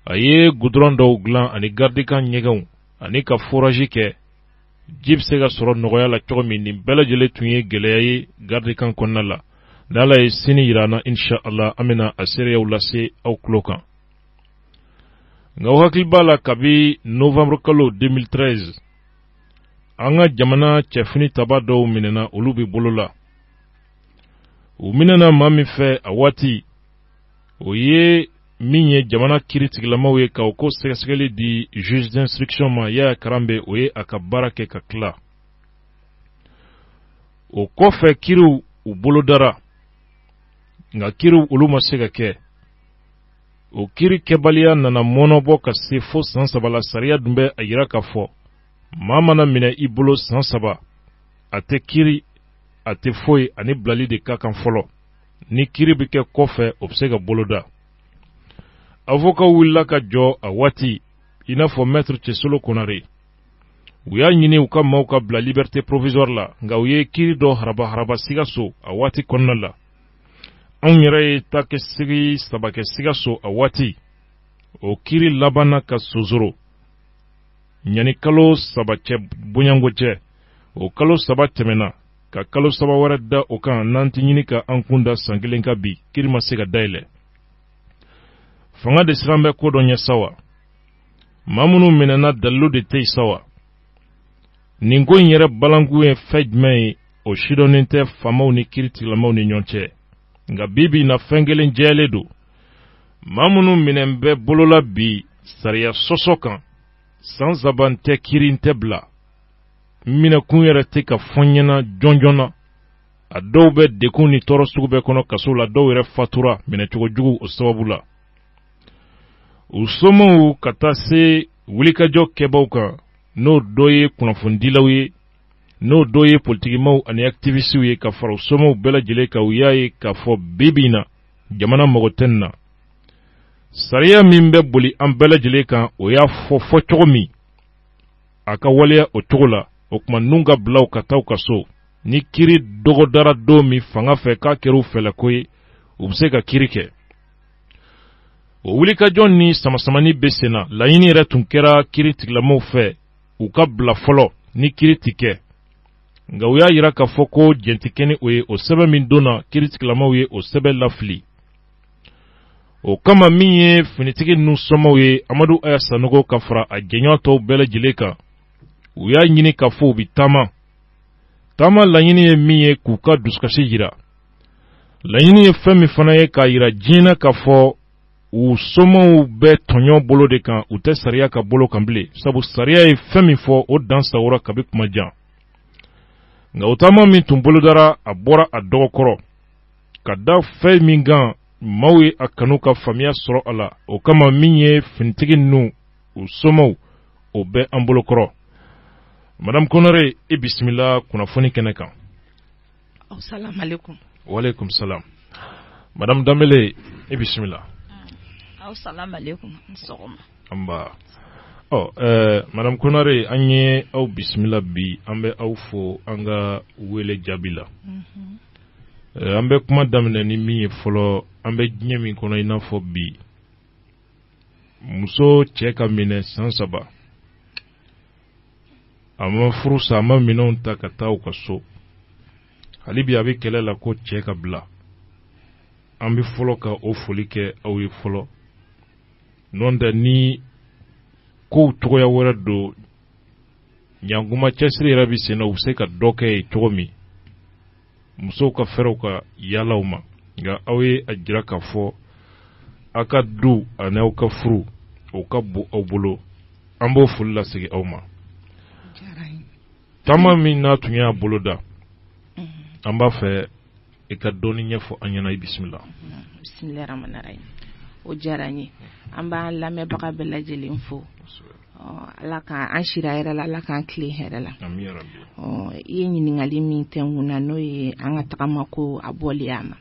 a ye gudɔrɔn dɔw dilan ani gardikan ɲɛgɛnw ani ka forazi kɛ ji bɛ se ka sɔrɔ nɔgɔya la cogo min nin bɛɛ lajɛlen tun ye gɛlɛya ye garidikan kɔnɔna la ni ala ye sini jira an na insa ala an bɛna a seereyaw lase aw tulo kan nka aw hakili b'a la kabi novanburu kalo 2013 an ka jamana cɛfini taba dɔw minɛna olu bɛ bolo la u minɛna maa min fɛ a waati o ye min ye jamana kiri tigilamaw ye ka o ko sɛgɛsɛgɛli di juge d'instruction ma Yaya Karambe o ye a ka baara kɛ ka tila o kɔfɛ kiriw u bolodara nka kiriw olu ma se ka kɛ o kiri kɛbaliya nana mɔnɔbɔ ka se fo san saba la sariya dun bɛ a yira k'a fɔ maa mana minɛ i bolo san saba a tɛ kiri a tɛ foyi a ni bilali de ka kan fɔlɔ ni kiri bɛ kɛ kɔfɛ o bɛ se ka boloda avoka wulila ka jɔ a waati i n'a fɔ mɛtiri cɛsolo konare u y'a ɲini u ka maaw ka bila liberté provisoire la nka u ye kiri dɔ haraba haraba sikaso a waati kɔnɔna la anw yɛrɛ ye taakasegin saba kɛ sikaso a waati o kiri labanna ka sonsoro ɲani kalo saba cɛ bonyayanko cɛ o kalo saba tɛmɛna ka kalo saba wɛrɛ da o kan n'an t'a ɲini ka an kun da san kelen kan bi kiri ma se ka dayɛlɛ fanga de sirannen bɛ ko dɔ ɲɛ sa wa maa minnu minɛna dalilu de tɛ yen sa wa nin ko in yɛrɛ balankun ye fɛn jumɛn ye o si dɔnnen tɛ faamaw ni kiritigilamaw ni ɲɔgɔn cɛ nka bi bi in na fɛn kelen jɛyalen don maa minnu minɛnen bɛ bolo la bi sariya sɔsɔ kan san saba n tɛ kiri n tɛ bila minɛkun yɛrɛ tɛ ka fɔ ɲɛna jɔnjɔn na a dɔw bɛ degun ni tɔɔrɔ sugu bɛɛ kɔnɔ kaso la dɔw yɛrɛ fatura minɛcogo jugu o sababu la u somɔgɔw ka taa se wulikajɔ kɛbaaw kan n'o dɔ ye kunnafonidilaw ye n'o dɔ ye politikimaw ani akitivisitiw ye ka fara u somɔgɔw bɛɛ lajɛlen kan u y'a ye k'a fɔ bi bi in na jamana mago tɛ nin na sariya min bɛ boli an bɛɛ lajɛlen kan o y'a fɔ fɔ cogo min a ka waleya o cogo la o tuma ninnu ka bila u ka taa u ka so ni kiri dɔgɔdara don min fanga fɛ k'a kɛra u fɛlɛko ye u bɛ se ka kiri kɛ o wulikajɔ ni samasamani bɛ sen na laɲini yɛrɛ tun kɛra kiritigɛlamɔgɔw fɛ u ka bila fɔlɔ ni kiri tɛ kɛ nka u y'a jira k'a fɔ ko jɛn tɛ kɛ ni o ye o sɛbɛn min donna kiritigɛlamɔgɔw ye o sɛbɛn lafili o kama min ye finitigi ninnu somaw ye amadu aya sanogo ka fara a jɛɲɔgɔn tɔw bɛɛ lajɛlen kan u y'a ɲini k'a fɔ u bɛ taama taama laɲini ye min ye k'u ka dusukasi jira laɲini ye fɛn min fana ye k'a jira diɲɛ na k'a fɔ u somaw bɛ tɔɲɔ bolo de kan u tɛ sariya ka bolo kan bilen sabu sariya ye fɛn min fɔ o dan sagonna kabi tuma jan nka o taama min tun bolodara a bɔra a dɔgɔ kɔrɔ ka da fɛn min kan maaw ye a kanu ka faamuya sɔrɔ a la o kama min ye finitigi ninnu u somaw o bɛ an bolo kɔrɔ madame konare i bisimila kunnafoni kɛnɛ kan waaleykum salam madame danbele i bisimila nba ɔ ɛɛ madame konare an ye aw bisimila bi an bɛ aw fo an ka wele jaabi la mhm. eh, an bɛ kuma daminɛ ni min ye fɔlɔ an bɛ diɲɛ min kɔnɔ i n'a fɔ bi muso cɛ ka minɛ san saba a ma furu sa a ma minɛnw ta ka taa u ka so hali bi a bɛ kɛlɛ la ko cɛ ka bila an bɛ fɔlɔ ka o foli kɛ aw ye fɔlɔ nɔntɛ ni kow cogoya wɛrɛ don ɲankuma cɛsiri yɛrɛ bɛ sen na u bɛ se ka dɔ kɛ ye cogo min musow ka fɛɛrɛw ka yaalaw ma nka aw ye a jira k'a fɔ aw ka du ani aw ka furu o ka bon aw bolo an b'o foli lasegin aw ma taama min aw tun y'a boloda an b'a fɛ i ka dɔɔni ɲɛfɔ an ɲɛna i bisimila bisimilahi rahmani rahim o diyara n ye an b'an lamɛnbaga bɛɛ lajɛlen fo ala ka an sira hɛrɛ la ala k'an tilen hɛrɛ la i ye ɲininkali min kɛ kun na n'o ye an ka tagama ko a bɔli a ma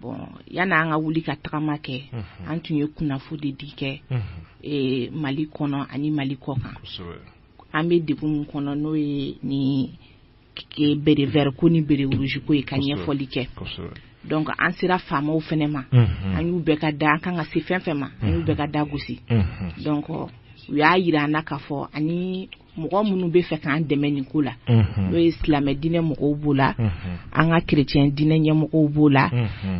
bon yanni an ka wuli ka tagama kɛ an tun ye kunnafo de di kɛ mali kɔnɔ ani mali kɔkan an bɛ degun min kɔnɔ n'o ye nin bérets verts ko ni bérets rouges ko ye ka ɲɛfɔli kɛ donc an sera faamaw fana ma an y'u bɛɛ ka da an kan ka se fɛn fɛn ma an y'u bɛɛ ka da gosi donc u y'a jira an na k'a fɔ ani mɔgɔ minnu b'a fɛ k'an dɛmɛ nin ko la n'o ye silamɛ diinɛ mɔgɔw b'o la an ka chrétien diinɛ ɲɛmɔgɔw b'o la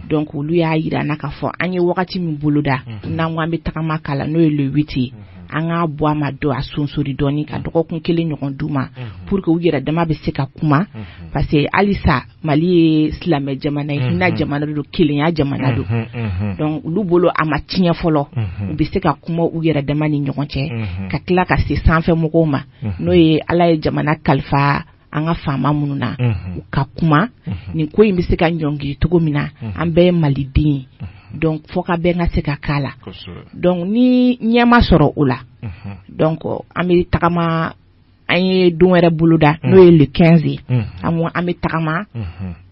donc olu y'a jira an na k'a fɔ an ye wagati min boloda n'an ko an bɛ tagama k'a la n'o ye le huit ye an k'a bɔ a ma don a sonsori dɔɔni ka dɔgɔkun kelen ɲɔgɔn d'u ma pour que u yɛrɛ dama bɛ se ka kuma parce que halisa Mali ye silamɛ jamana ye hinɛ jamana don kelenya jamana don donc olu bolo a ma tiɲɛ fɔlɔ u bɛ se ka kuma u yɛrɛ dama ni ɲɔgɔn cɛ ka tila ka se sanfɛ mɔgɔw ma n'o ye Ala ye jamana kalifa an ka faama minnu na u ka kuma nin ko in bɛ se ka ɲɔngiri cogo min na an bɛɛ ye maliden donc fɔkabɛn ka se ka k'a la donc ni ɲɛ ma sɔrɔ o la donc an bɛ tagama an ye don wɛrɛ boloda n'o ye le quinze ye an bɛ tagama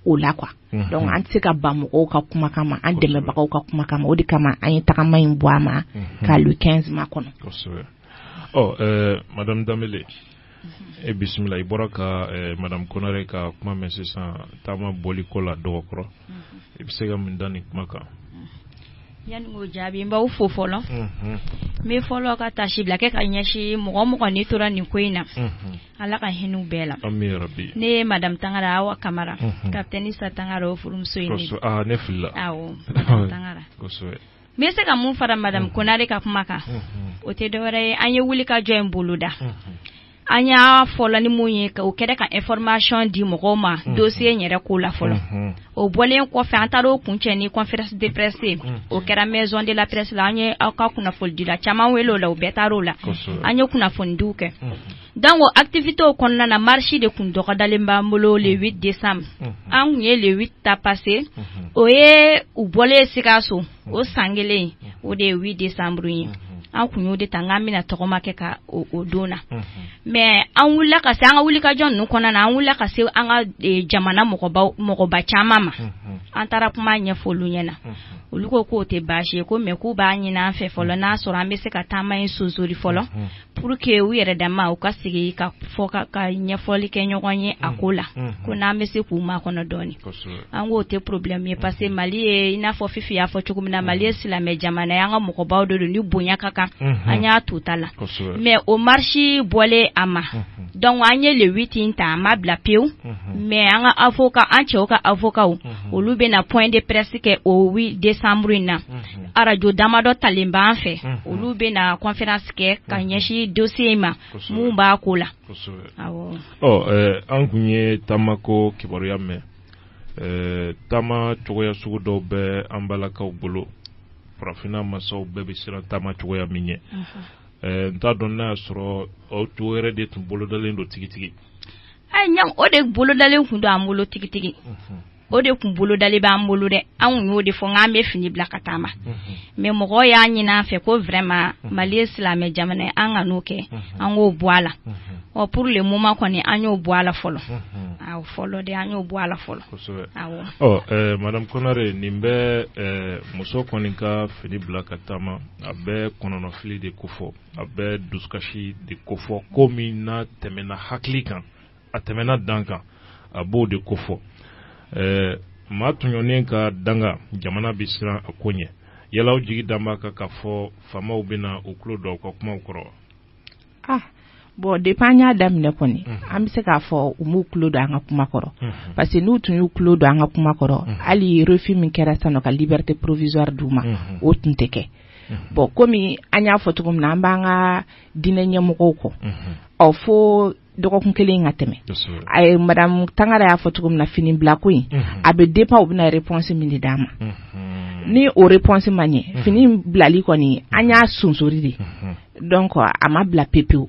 o la donc an tɛ se ka ban mɔgɔw ka kuma kama an dɛmɛbagaw ka kuma kama o de kama an ye tagama in bɔ a ma ka le quinze makɔnɔ ɔ madame danbeb i bisimila i bɔra ka eh, madame konare ka kuma mɛn sisan taama bɔli ko la dɔgɔkɔrɔ mhm. i bɛ se ka mun da nin kuma kan yanni k'o jaabi n b'aw fo fɔlɔ mhm. n bɛ fɔlɔ ka tasi bila kɛ ka ɲɛsin mɔgɔ mɔgɔ ni tora nin ko in na mhm. ala ka hinɛ u bɛɛ la ne ye madame tangara awa kamara kapitɛni isa tangara o furumuso ye ne ah, ne filila awɔ madame tangara kosɛbɛ n bɛ se ka mun fara madame konare ka kuma kan o tɛ dɔwɛrɛ ye an ye wuli ka jɔ in boloda an y'a fɔlɔ ni mun ye o kɛra ka information di mɔgɔw ma dossier in yɛrɛ ko la fɔlɔ o bɔlen kɔfɛ an taara o kun cɛ ni conférence de presse ye o kɛra maison de la presse la an ye aw ka kunnafonidila caman wele o la u bɛɛ taara o la an ye kunnafonidiw kɛ Donc activitéw kɔnɔna na marche de tun dɔgɔdalen b'an bolo le décembre an tun ye le ta parce que o ye u bɔlen sikaso o san kelen o de ye décembre ye an tun y'o de ta an bɛna tagama kɛ ka o don na mais an wulila ka se an ka wulikajɔ ninnu kɔnɔna na an wulila ka se an ka jamana mɔgɔba caman ma an taara kuma ɲɛfɔ olu ɲɛ na olu ko k'o tɛ baasi ye ko mais k'u b'a ɲinin an fɛ fɔlɔ n'a sɔrɔ an bɛ se ka taama in sonsori fɔlɔ pour que u yɛrɛ dama u ka sigi ka fɔ ka ka ɲɛfɔli kɛ ɲɔgɔn ye a ko la ko n'an bɛ se k'u makɔnɔ dɔɔnin an k'o tɛ problème ye parce que mali ye i n'a fɔ fifi y'a fɔ cogo min na mali ye silamɛ jamana ye an ka mɔgɔbaw de don u ni bonya ka kan an y'a to ta la mɛ o marisi bɔlen a ma dɔnku an ye le huit ta an m'a bila pewu mɛ an ka avocat an cɛw ka avocatw olu bɛna na point de presse kɛ o desanburu in na arajo damadɔ talen b'an fɛ olu bɛna kɔnfɛransi kɛ ka ɲɛsin dossier in ma minnu b'a ko la an tun ye taamako kibaruya mɛn taama cogoya sugu dɔw bɛ an balakaw bolo farafinna masaw bɛɛ bɛ siran taama cogoya min ɲɛ n t'a dɔn n'a y'a sɔrɔ o yɛrɛ de tun bolodalen don tigitigi o de bolodalen tun don an bolo tigitigi o de tun bolodalen b'an bolo dɛ anw y'o de fɔ k'an bɛ fini bila ka taama mɛ mɔgɔ y'a ɲinin an fɛ ko vraiment mali ye silamɛ jamana ye an kan'o kɛ an k'o bɔ a la ɔ pour le moment kɔni an y'o bɔ a la fɔlɔ fɔlɔ de an y'o bɔ a la fɔlɔ madamu konare nin bɛ muso kɔni ka fini bila ka taama a bɛ kɔnɔnafili de kofɔ a bɛ dusukasi de kofɔ ko min n'a tɛmɛna hakili kan a tɛmɛna dan kan a b'o de kofɔ ɛɛ maa tɔɲɔnen ka danga jamana bɛ siran a ko ɲɛ yala aw jigi dalen b'a kan k'a fɔ faamaw bɛna u tulo don aw ka kumaw kɔrɔ wa ah bɔn depi an y'a daminɛ kɔni an bɛ se k'a fɔ u m'u tulo don an ka kuma kɔrɔ parce que n'u tun y'u tulo don an ka kuma kɔrɔ hali refi min kɛra san'u ka liberté provisoire d'u ma o tun tɛ kɛ bɔn komi an y'a fɔ cogo min na an b'an ka diinɛ ɲɛmɔgɔw kɔnɔ fo dɔgɔkun kelen ka tɛmɛ a ye madamu tangara y'a fɔ cogo min na fini bila ko in a bɛ dépend u bɛna réponse min de d'an ma ni o réponse ma ɲɛ fini bilali kɔni an y'a sonsori de dɔnku a ma bila pe pewu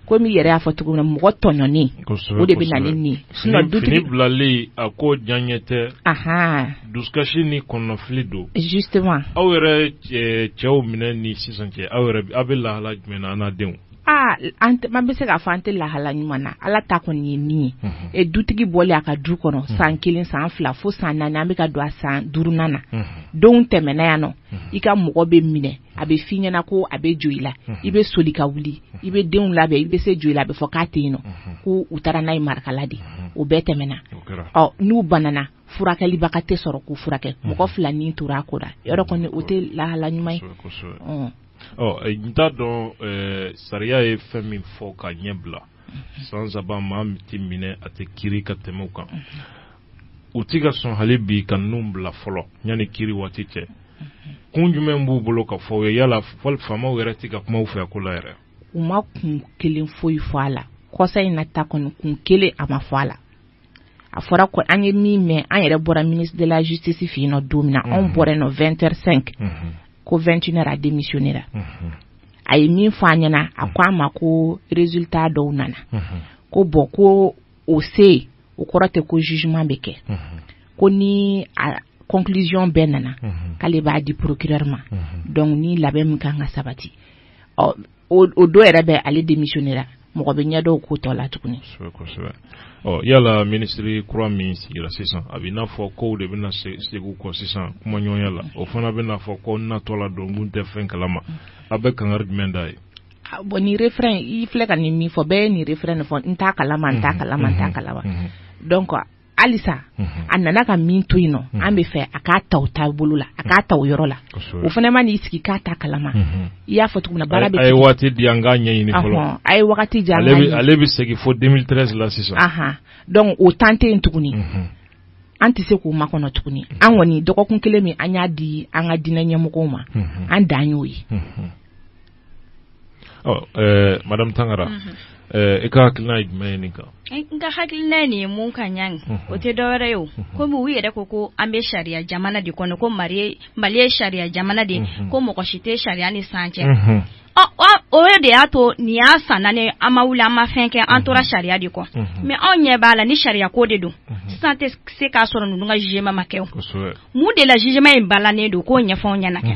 komi i yɛrɛ y'a fɔ cogo min na mɔgɔ tɔɲɔni o de bɛ na ni fini bilali ye a ko diyanye tɛ dusukasi ni kɔnɔnafili don justement aw yɛrɛ cɛw minɛ ni sisan cɛ aw aw bɛ lahala jumɛn na an denw aa an tɛ an bɛ se k'a fɔ an tɛ lahala ɲuman na Ala ta kɔni ye min ye unhun e dutigi bɔlen a ka du kɔnɔ unhun san kelen san fila fo san naani an bɛ ka don a san duurunan na unhun donw tɛmɛna yan nɔ unhun i ka mɔgɔ bɛ minɛ a bɛ f'i ɲɛna ko a bɛ joyila unhun i bɛ soli ka wuli i bɛ denw labɛn i bɛ se joyila a bɛ fɔ k'a tɛ yen nɔ unhun ko u taara n'a ye marakala de unhun o bɛɛ tɛmɛna o kɛra ɔ n'u banana furakɛlibaga tɛ sɔrɔ k'u furakɛ mɔgɔ fila ni tora a ko la yɔrɔ kɔni o tɛ lahala ɲuman ye kosɛbɛ kosɛbɛ ɔn n t'a dɔn sariya ye fɛn min fɔ ka ɲɛ bila san saba maa tɛ minɛ a tɛ kiri ka tɛmɛ o kan u tɛ ka sɔn hali bi ka ninnu bila fɔlɔ yanni kiri waati cɛ kun jumɛn b'u bolo ka fɔ aw ye yala faamaw yɛrɛ tɛ ka kuma aw fɛ a ko la yɛrɛ u ma kun kelen foyi fɔ a la kɔsa in na ta kɔni kun kelen a ma fɔ a la a fɔra ko an ye min mɛn an yɛrɛ bɔra ministre de la justice fɛ yen nɔ don min na anw bɔra yen nɔ 20h05 ko 21h a démissionnera a ye min fɔ an ɲɛna a ko an ma ko résultat dɔw nana ko bon ko o se o kɔrɔ tɛ ko jugement bɛ kɛ ko ni a conclusion bɛɛ nana k'ale b'a di procureur ma donc ni labɛn min ka kan ka sabati ɔ o don yɛrɛ bɛ ale démissionnera mɔgɔ bɛ ɲɛ da o ko tɔ la tuguni yala minisiri kura min sigira sisan a bɛ n'a fɔ kow de bɛna segin kɔ sisan kumaɲɔgɔnya la o fana bɛn'a fɔ ko n natɔ la don n tun tɛ fɛn kalama aw bɛ kankari jumɛn da ye bon nin refrain i filɛ ka nin min fɔ bɛɛ ye nin refrain in fɔ n t'a kalama n t'a kalama n t'a kalama donc halisa a nana ka min to yen nɔ an b'a fɛ a k'a ta o tabolo la a k'a ta o yɔrɔ la o fana man'i sigi k'a t'a kalama i y'a fɔ cogo min na baara bɛ a ye waati di an k'a ɲɛɲini fɔlɔ a ye waati di ale bɛ segin fo 2013 la sisan donc o temps tɛ yen tuguni an tɛ se k'o makɔnɔ tuguni an kɔni dɔgɔkun kelen min an y'a di an ka diinɛ ɲɛmɔgɔw ma an dan y'o ye ɔ ɛɛ madame tangara mhm. ɛɛ i ka hakilina ye jumɛn ye nin kan n ka hakilina ye nin ye mun ka ɲa nin mhm. o tɛ dɔwɛrɛ ye o mhm. komi u yɛrɛ ko ko an bɛ sariya jamana de kɔnɔ ko mali mali ye sariya jamana de ko mɔgɔ si tɛ sariya ni san cɛ o de y'a to nin y'a san naani an ma wuli an ma fɛn kɛ an tora sariya de kɔ mais anw ɲɛ b'a la ni sariya ko de don sisan tɛ se k'a sɔrɔ ninnu ka jugement ma kɛ o mun de la jugement in balannen don k'o ɲɛfɔ anw ɲɛna kɛ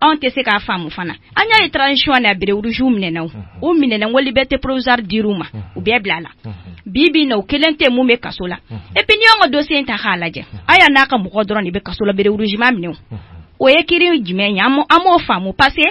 anw tɛ se k'a faamu fana an y'a ye transition na bérets rouges minɛna u minɛna ko liberté provisoire dir'u ma u bɛɛ bilala bi bi in na u kelen tɛ min bɛ kaso la et puis n'i y'an ka dossier in ta k'a lajɛ haya n'a ka mɔgɔw dɔrɔn de bɛ kaso la bérets rouges ma minɛ o ye kiri jumɛn ye an m'o faamu parce que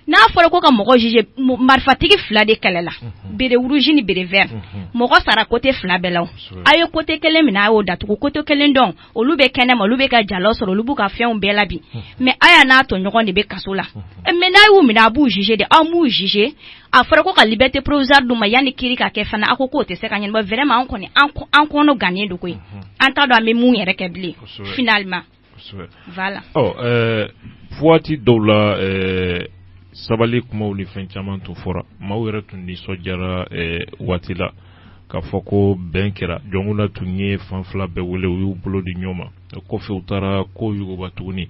n'a fɔra ko ka mɔgɔ juger marifatigi fila de kɛlɛla béret rouge ni béret vert mɔgɔ sara côté fila bɛɛ la a ye côté kelen minɛ a y'o datugu côté kelen dɔ in olu bɛ kɛnɛ ma olu bɛ ka jala sɔrɔ olu b'u ka fɛnw bɛɛ la bi mais haya n'a tɔɲɔgɔn de bɛ kaso la mais n'a y'u minɛ a b'u juger dɛ aw m'u juger a fɔra ko ka liberté provisoire d'u ma yanni kiri ka kɛ fana a ko k'o tɛ se ka ɲɛnabɔ vraiment an kɔni an kɔnɔ gannen don koyi an t'a dɔn an bɛ mun yɛrɛ kɛ bilen finalement là waati dɔw la sabali kuma ni fɛn caman tun fɔra maaw yɛrɛ tun nisɔndiyara waati la k'a fɔ ko bɛn kɛra Jɔnkunda tun ye fan fila bɛɛ wele u y'u bolo di ɲɔgɔn ma o kɔfɛ u taara ko yuguba tuguni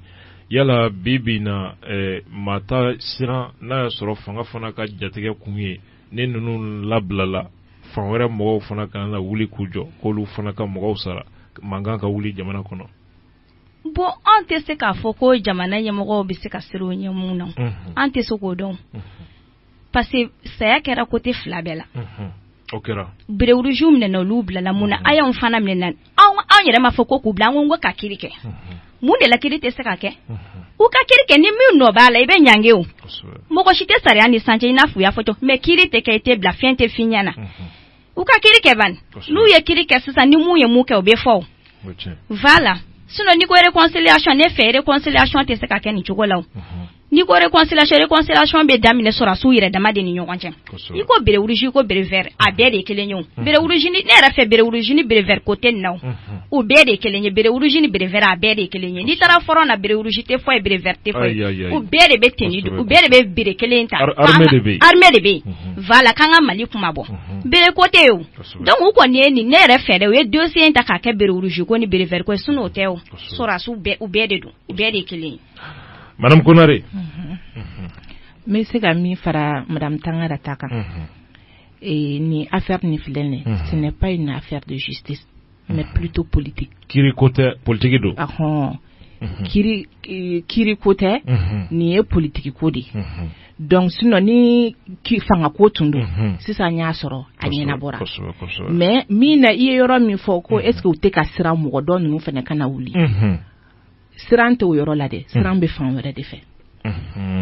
yala bi bi na eh, maa ta siran n'a y'a sɔrɔ fanga fana ka jatigɛ kun ye ni ninnu labilala fan wɛrɛ mɔgɔw fana kana na wuli k'u jɔ k'olu fana ka mɔgɔw sara mankan ka wuli jamana kɔnɔ bon an tɛ se k'a fɔ ko jamana ɲɛmɔgɔw bɛ se ka siran o ɲɛ mun na an tɛ se k'o dɔn parce que saya kɛra côté fila bɛɛ la. Unhun. O kɛra. Bere rouge minɛna olu bilala mun na? Unhun. Aya fana minɛna. Anw anw yɛrɛ m'a fɔ ko k'u bila, an ko k'u ka kiri kɛ. Unhun. Mun de la kiri tɛ se ka kɛ? Unhun. U ka kiri kɛ ni min nɔ b'a la, i bɛ ɲangi o. Kosɛbɛ. Mɔgɔ si tɛ sariya nin sanfɛ i n'a f'u y'a fɔ cogo mais kiri tɛ kɛ, i tɛ bila, fɛn tɛ f'i ɲɛna. Unhun. u ka kiri kɛ bani n'u ye kiri kɛ sisan ni min ye min kɛ o bɛ fɔ voilà sinon n'i ko réconciliation ne fɛ réconciliation tɛ se ka kɛ nin cogo la mhm. n'i ko réconciliation réconciliation bɛ daminɛ sɔrɔsiw yɛrɛ dama de ni ɲɔgɔn cɛ i ko bere rouge i ko bere vert a bɛɛ de ye kelen ye o mhm. bere rouge ni ne yɛrɛ fɛ bere rouge ni bere vert ko tɛ nin na o mhm. o bɛɛ de ye kelen ye bere rouge ni bere vert a bɛɛ de ye kelen ye n'i taara fɔrɔn na bere rouge tɛ fɔ yen bere vert tɛ fɔ yen o bɛɛ de bɛ tenue o bɛɛ de bɛ bere kelen ta armée de bɛ yen armée de bɛ yen voilà k'an ka Mali kunmabɔ bere ko tɛ yen donc u kɔni ye nin ne yɛrɛ fɛ dɛ u ye dossier in ta k'a kɛ bere rouge ko ni bere vert ko sinon o tɛ o sɔrɔsiw u bɛɛ de don u bɛɛ de kelen ye madame Konare n bɛ se ka min fara madame Tangara ta kan nin affaire nin filɛ ce n'est pas une affaire de mais plutôt politique kiri ko tɛ politigi don ahɔn kiri ko tɛ nin ye politigi ko de ye donc sinon ni fanga ko tun don sisan y'a sɔrɔ a ɲɛnabɔra mais min na i ye yɔrɔ min fɔ ko est-ce que u tɛ ka siran mɔgɔ tɔ ninnu fana kana wuli siran tɛ o yɔrɔ la dɛ siran bɛ fan wɛrɛ de fɛ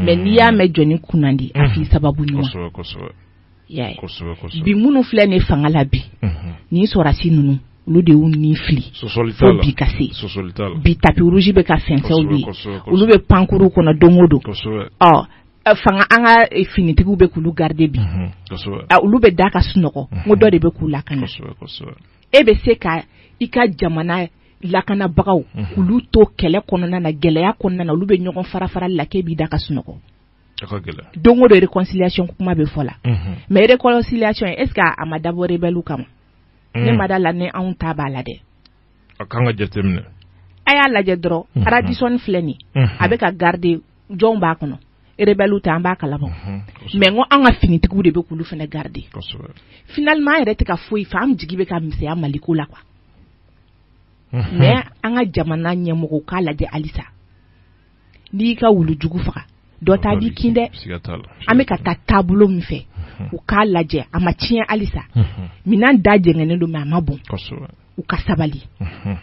mais n'i y'a mɛn jɔnni kunnandi a' sababu ɲuman bi minnu filɛ nin fanga la bi ni sɔrɔsi ninnu olu de nin filɛ fo ka se bi tapis rouge bɛ ka fɛnsɛ olu ye olu bɛ pankurun kɔnɔ don o don fanga an ka finitigiw bɛ k'olu garidi bi olu bɛ da ka sunɔgɔ ko dɔ de bɛ k'u lakana e bɛ se ka i ka jamana lakanabagaw k'olu to kɛlɛ kɔnɔna na gɛlɛya kɔnɔna na olu bɛ ɲɔgɔn farafara la k'i b'i da ka sunɔgɔ don o don réconciliation kuma bɛ fɔ la mais réconciliation est-ce que a ma dabɔ rebɛliw kama mm. ne ma da a la ni anw ta b'a la dɛ a ka ka jate a y'a lajɛ dɔrɔn mm-hmm. Radisson filɛ nin mm-hmm. a bɛ ka garidi jɔn b'a kɔnɔ rebɛliw tɛ an b'a kalama mm-hmm. mais ko an ka finitigiw de bɛ k'olu fana garidi finalement an yɛrɛ tɛ ka foyi faamu an jigi bɛ ka misɛnya mali ko la quoi mais an ka jamana ɲɛmɔgɔ k'a lajɛ halisa n'i y'i ka wulujugu faga dɔ ta b'i kin dɛ siga t'a la an bɛ ka taa taabolo min fɛ u k'a lajɛ a ma tiɲɛ halisa Unhun, minɛn da jɛngɛnnen don mais a ma bɔn kosɛbɛ u ka sabali Unhun.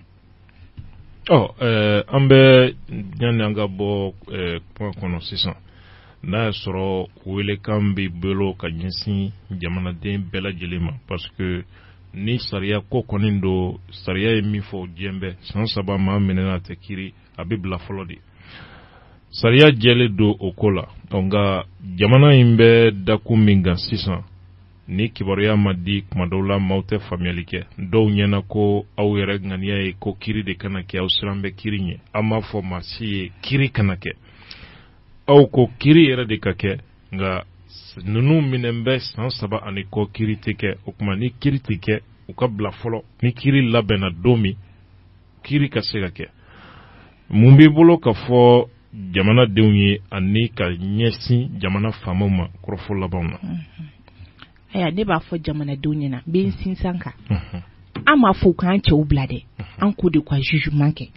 ɔ ɛɛ, an bɛ yanni an ka bɔ ɛɛ, kuma kɔnɔ sisan n'a y'a sɔrɔ welekan b'i bolo ka ɲɛsin jamanaden bɛɛ lajɛlen ma parce que ni sariya ko kɔni don sariya ye min fɔ diɲɛ bɛɛ san saba maa minɛna a tɛ kiri a bɛ bila fɔlɔ de sariya jɛlen don o ko la nka jamana in bɛ dakun min kan sisan ni kibaruya ma di kuma dɔw la maaw tɛ faamuyali kɛ dɔw ɲɛna ko aw yɛrɛ ŋaniya ye ko kiri de kana kɛ aw siran bɛ kiri ɲɛ an m'a fɔ maa si ye kiri kana kɛ aw ko kiri yɛrɛ de ka kɛ nka ninnu minɛ bɛ san saba ani kɔ kiri tɛ kɛ o tuma ni kiri tɛ kɛ u ka bila fɔlɔ ni kiri labɛnna don min kiri ka se ka kɛ mun b'i bolo ka fɔ jamanadenw ye ani ka ɲɛsin jamana faamaw ma kɔrɔfɔ labanw na ayiwa ne b'a fɔ jamanadenw ɲɛna n bɛ n sinsin a kan an m'a fɔ u k'an cɛw bila dɛ an k'o de ka jugement kɛ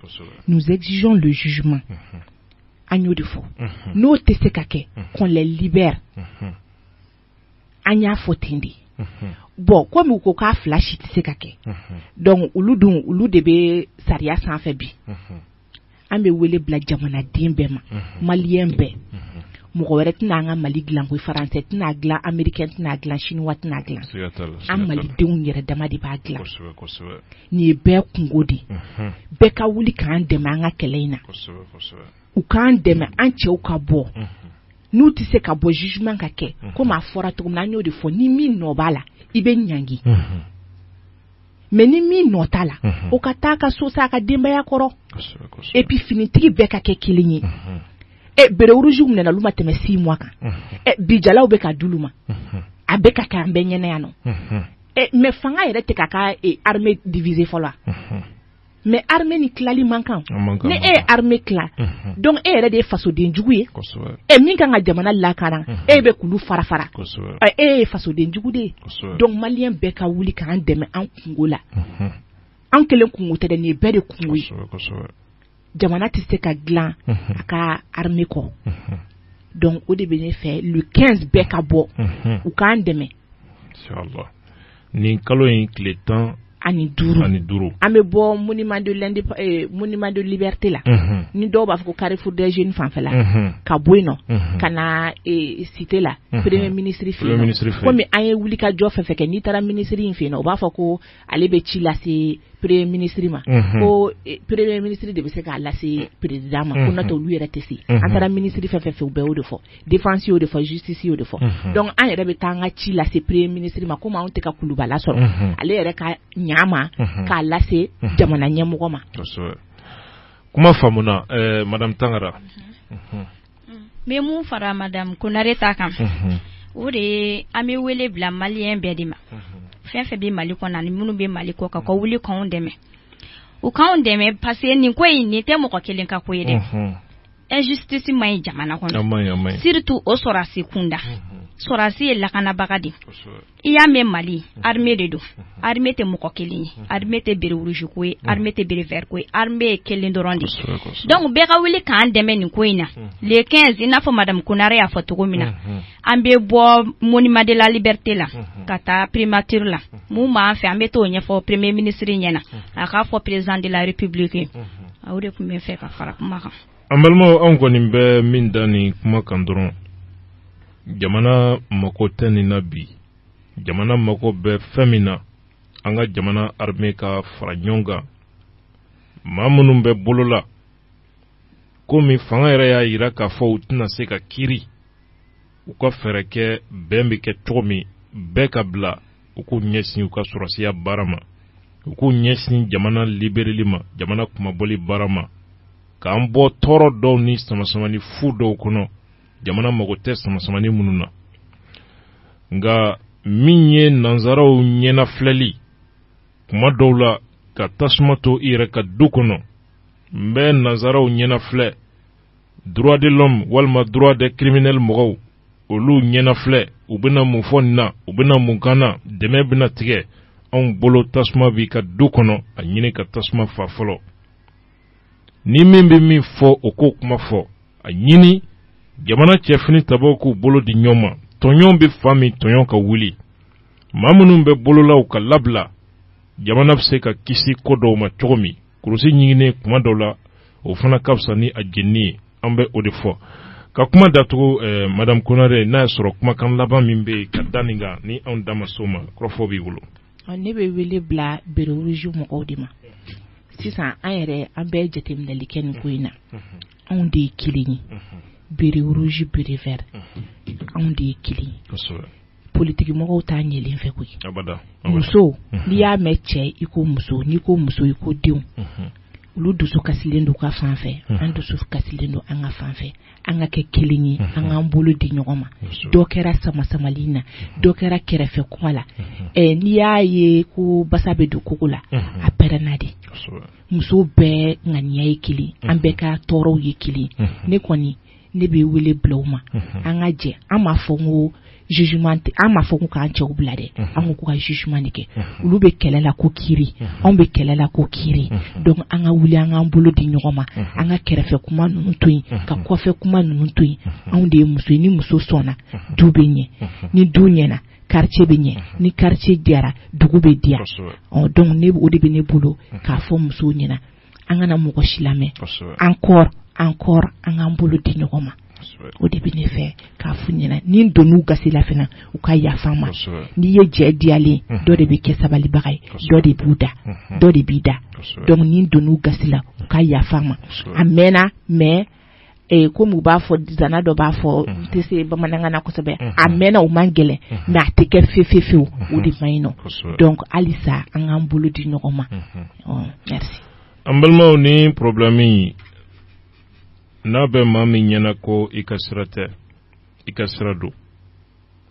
nous exigeons le jugement an y'o de fɔ n'o tɛ se ka kɛ qu'on les libère an y'a fɔ ten de bon comme u ko k'a fila si tɛ se ka kɛ donc olu dun olu de bɛ sariya sanfɛ bi an bɛ wele bila jamanaden bɛɛ ma malien bɛɛ mɔgɔ wɛrɛ tɛna an ka mali dila ko français tɛn'a dila ameriki tɛn'a dila chinois tɛn'a dila an malidenw yɛrɛ dama de b'a dila nin ye bɛɛ kunko de bɛɛ ka wuli k'an dɛmɛ an ka kɛlɛ in na u k'an dɛmɛ an cɛw ka bɔ n'u tɛ se ka bɔ jugement ka kɛ comme a fɔra cogo min na an y'o de fɔ ni min nɔ b'a la i bɛ ɲangi mais ni min nɔ t'a la o ka taa a ka so sa a ka denbaya kɔrɔ et puis finitigi bɛɛ ka kɛ kelen ye ɛ béret rouge minɛna olu ma tɛmɛ six mois kan ɛ bi jalaw bɛ ka d'olu ma a bɛ ka kɛ an bɛɛ ɲɛna yan nɔ ɛ mais fanga yɛrɛ tɛ k'a ka armée diviser fɔlɔ wa. mais armée nin tilali man kan ni e ye armée tila donc e yɛrɛ de ye fasodenjugu ye e min kan ka jamana lakana e bɛ k'olu fara fara e ye fasodenjugu de ye donc malien bɛɛ ka wuli k'an dɛmɛ an kunko la an kelen kunko tɛ nin ye bɛɛ de kunko ye jamana tɛ se ka dila a ka armée kɔ donc o de bɛ ne fɛ le quinze bɛɛ ka bɔ u k'an dɛmɛ nin kalo in tile tan ani duuru ani duuru an bɛ bɔ monument de l'indé monument de eh, liberté la ni dɔw b'a fɔ ko carrefour des jeunes fanfɛla ka bɔ yen nɔ ka na eh, cité la premier ministre fɛ kɔmi an ye wuli ka jɔ fɛn fɛn kɛ n'i taara minisiri in fɛ yen o b'a fɔ ko ale bɛ ci lase premier ministre ma ko eh, premier ministre de bɛ se k'a lase président ma ko n'o tɛ olu yɛrɛ tɛ se an taara minisiri fɛn fɛn fɛ u bɛɛ o de fɔ défense y'o de fɔ justice y'o de fɔ donc an yɛrɛ bɛ taa an ka ci lase premier ministre ma kɔmi anw tɛ ka kuluba lasɔrɔ ale yɛrɛ ka ɲa a ma k'a lase jamana ɲɛmɔgɔ ma kuma faamuna madame tangara bɛ mun fara madame konare ta kan o de an bɛ wele bila malien bɛɛ de ma fɛn fɛn bɛ mali kɔnɔ ani minnu bɛ mali kɔkan ka wuli k'an dɛmɛ u k'an dɛmɛ parce que nin ko in nin tɛ mɔgɔ kelen ka ko ye dɛ injustice man ɲi jamana kɔnɔ surtout o sɔrɔdasi kunda sɔrɔdasi ye lakanabaga de i y'a mɛn mali armée de don armée tɛ mɔgɔ kelen ye armée tɛ béret rouge ko ye armée tɛ béret vert ko ye armée ye kelen dɔrɔn de ye donc bɛɛ ka wuli k'an dɛmɛ nin ko in na le 15 i n'a fɔ madame konare y'a fɔ cogo min na an bɛ bɔ monument de la liberté la ka taa primature la mun b'an fɛ an bɛ t'o ɲɛfɔ premier ministre ɲɛna a k'a fɔ président de la république ye aw de tun bɛ fɛ ka fara kuma kan an balimaw anw kɔni bɛ min da nin kuma kan dɔrɔn jamana mako tɛ nin na bi jamana mako bɛ fɛn min na an ka jamana armée ka fara ɲɔgɔn kan maa minnu bɛ bolo la komi fanga yɛrɛ y'a jira k'a fɔ u tɛna se ka kiri u ka fɛɛrɛ kɛ bɛn bɛ kɛ cogo min bɛɛ ka bila u k'u ɲɛsin u ka sɔrɔdasiya baara ma u k'u ɲɛsin jamana libereli ma jamana kunmabɔli baara ma k'an bɔ tɔɔrɔ dɔw ni samasamani fu dɔw kɔnɔ jamana mago tɛ samasamani minnu na nka min ye nanzaraw ɲɛnafilɛli kuma dɔw la ka tasuma to i yɛrɛ ka du kɔnɔ n bɛ nanzaraw ɲɛnafilɛ droit de l'homme walima droit des criminels mɔgɔw olu ɲɛnafilɛ u bɛna mun fɔ nin na u bɛna mun k'an na dɛmɛ bɛna tigɛ anw bolo tasuma b'i ka du kɔnɔ a ɲini ka tasuma faa fɔlɔ ni min bɛ min fɔ o k'o kuma fɔ a ɲini jamana cɛ finitabaw k'u bolo di ɲɔgɔn ma tɔɲɔn bɛ fan min tɔɲɔn ka wuli maa minnu bɛ bolo la u ka labila jamana bɛ se ka kisi ko dɔw ma cogo min kurusi ɲiginnen kuma dɔw la o fana ka fisa ni a jeninen ye an bɛ o de fɔ ka kuma datugu eh, madame konare n'a y'a sɔrɔ kumakan laban min bɛ yen ka da nin kan ni anw da ma s'o ma kɔrɔfɔ b'i bolo ne bɛ wele bila béret rouge mɔgɔw de ma sisan an yɛrɛ an bɛɛ jateminɛli kɛ nin ko in na anw de ye kelen ye béret rouge béret vert anw de ye kelen ye politigimɔgɔw t'a ɲɛlen fɛ koyi muso n'i y'a mɛn cɛ i ko muso n'i ko muso i ko denw olu dusu kasilen don u ka fan fɛ an dusu kasilen don an ka fan fɛ an ka kɛ kelen ye an k'an bolo di ɲɔgɔn ma dɔ kɛra samasamali na dɔ kɛra kɛrɛfɛ kuma la n'i y'a ye ko basa bɛ don kogo la a pɛrɛnna de muso bɛɛ ŋaniya ye kelen an bɛɛ ka tɔɔrɔw ye kelen ne kɔni ne bɛ wele bila ma an ka jɛ an m'a fɔ n ko z an m'a fɔ ko k'an cɛw bila dɛ an ko ko ka ɲuman de kɛ olu bɛ kɛlɛ la ko kiri anw bɛ kɛlɛ la ko kiri donc an ka wuli an k'an bolo di ɲɔgɔn ma an ka kɛrɛfɛ kuma ninnu to yen ka kɔfɛ kuma ninnu to yen anw de ye muso ni muso sɔnna du bɛ ɲɛ ni du ɲɛna quartier bɛ ɲɛ ni quartier diyara dugu bɛ diya donc o de bɛ ne bolo k'a fɔ musow ɲɛ na an kana mɔgɔ si lamɛn encore encore an k'an bolo di ɲɔgɔn ma o de bɛ ne fɛ k'a f'u ɲɛ na ni n donna u gasi la fana u ka yafa n ma n'i ye jɛ diyalen dɔ de bɛ kɛ sabalibaga ye dɔ de b'u da dɔ de b'i da donc ni n donna u gasi la u ka yafa n ma a mɛnna mɛ ee komi u b'a fɔ nzana dɔ b'a fɔ n tɛ se bamanankan na kosɛbɛ a mɛnna o man gɛlɛn mais a tɛ kɛ fefefew o de man ɲi non donc halisa an k'an bolo di ɲɔgɔn ma an balimaw nin problème in n'a bɛ maa min ɲɛ na ko i ka sira tɛ i ka sira don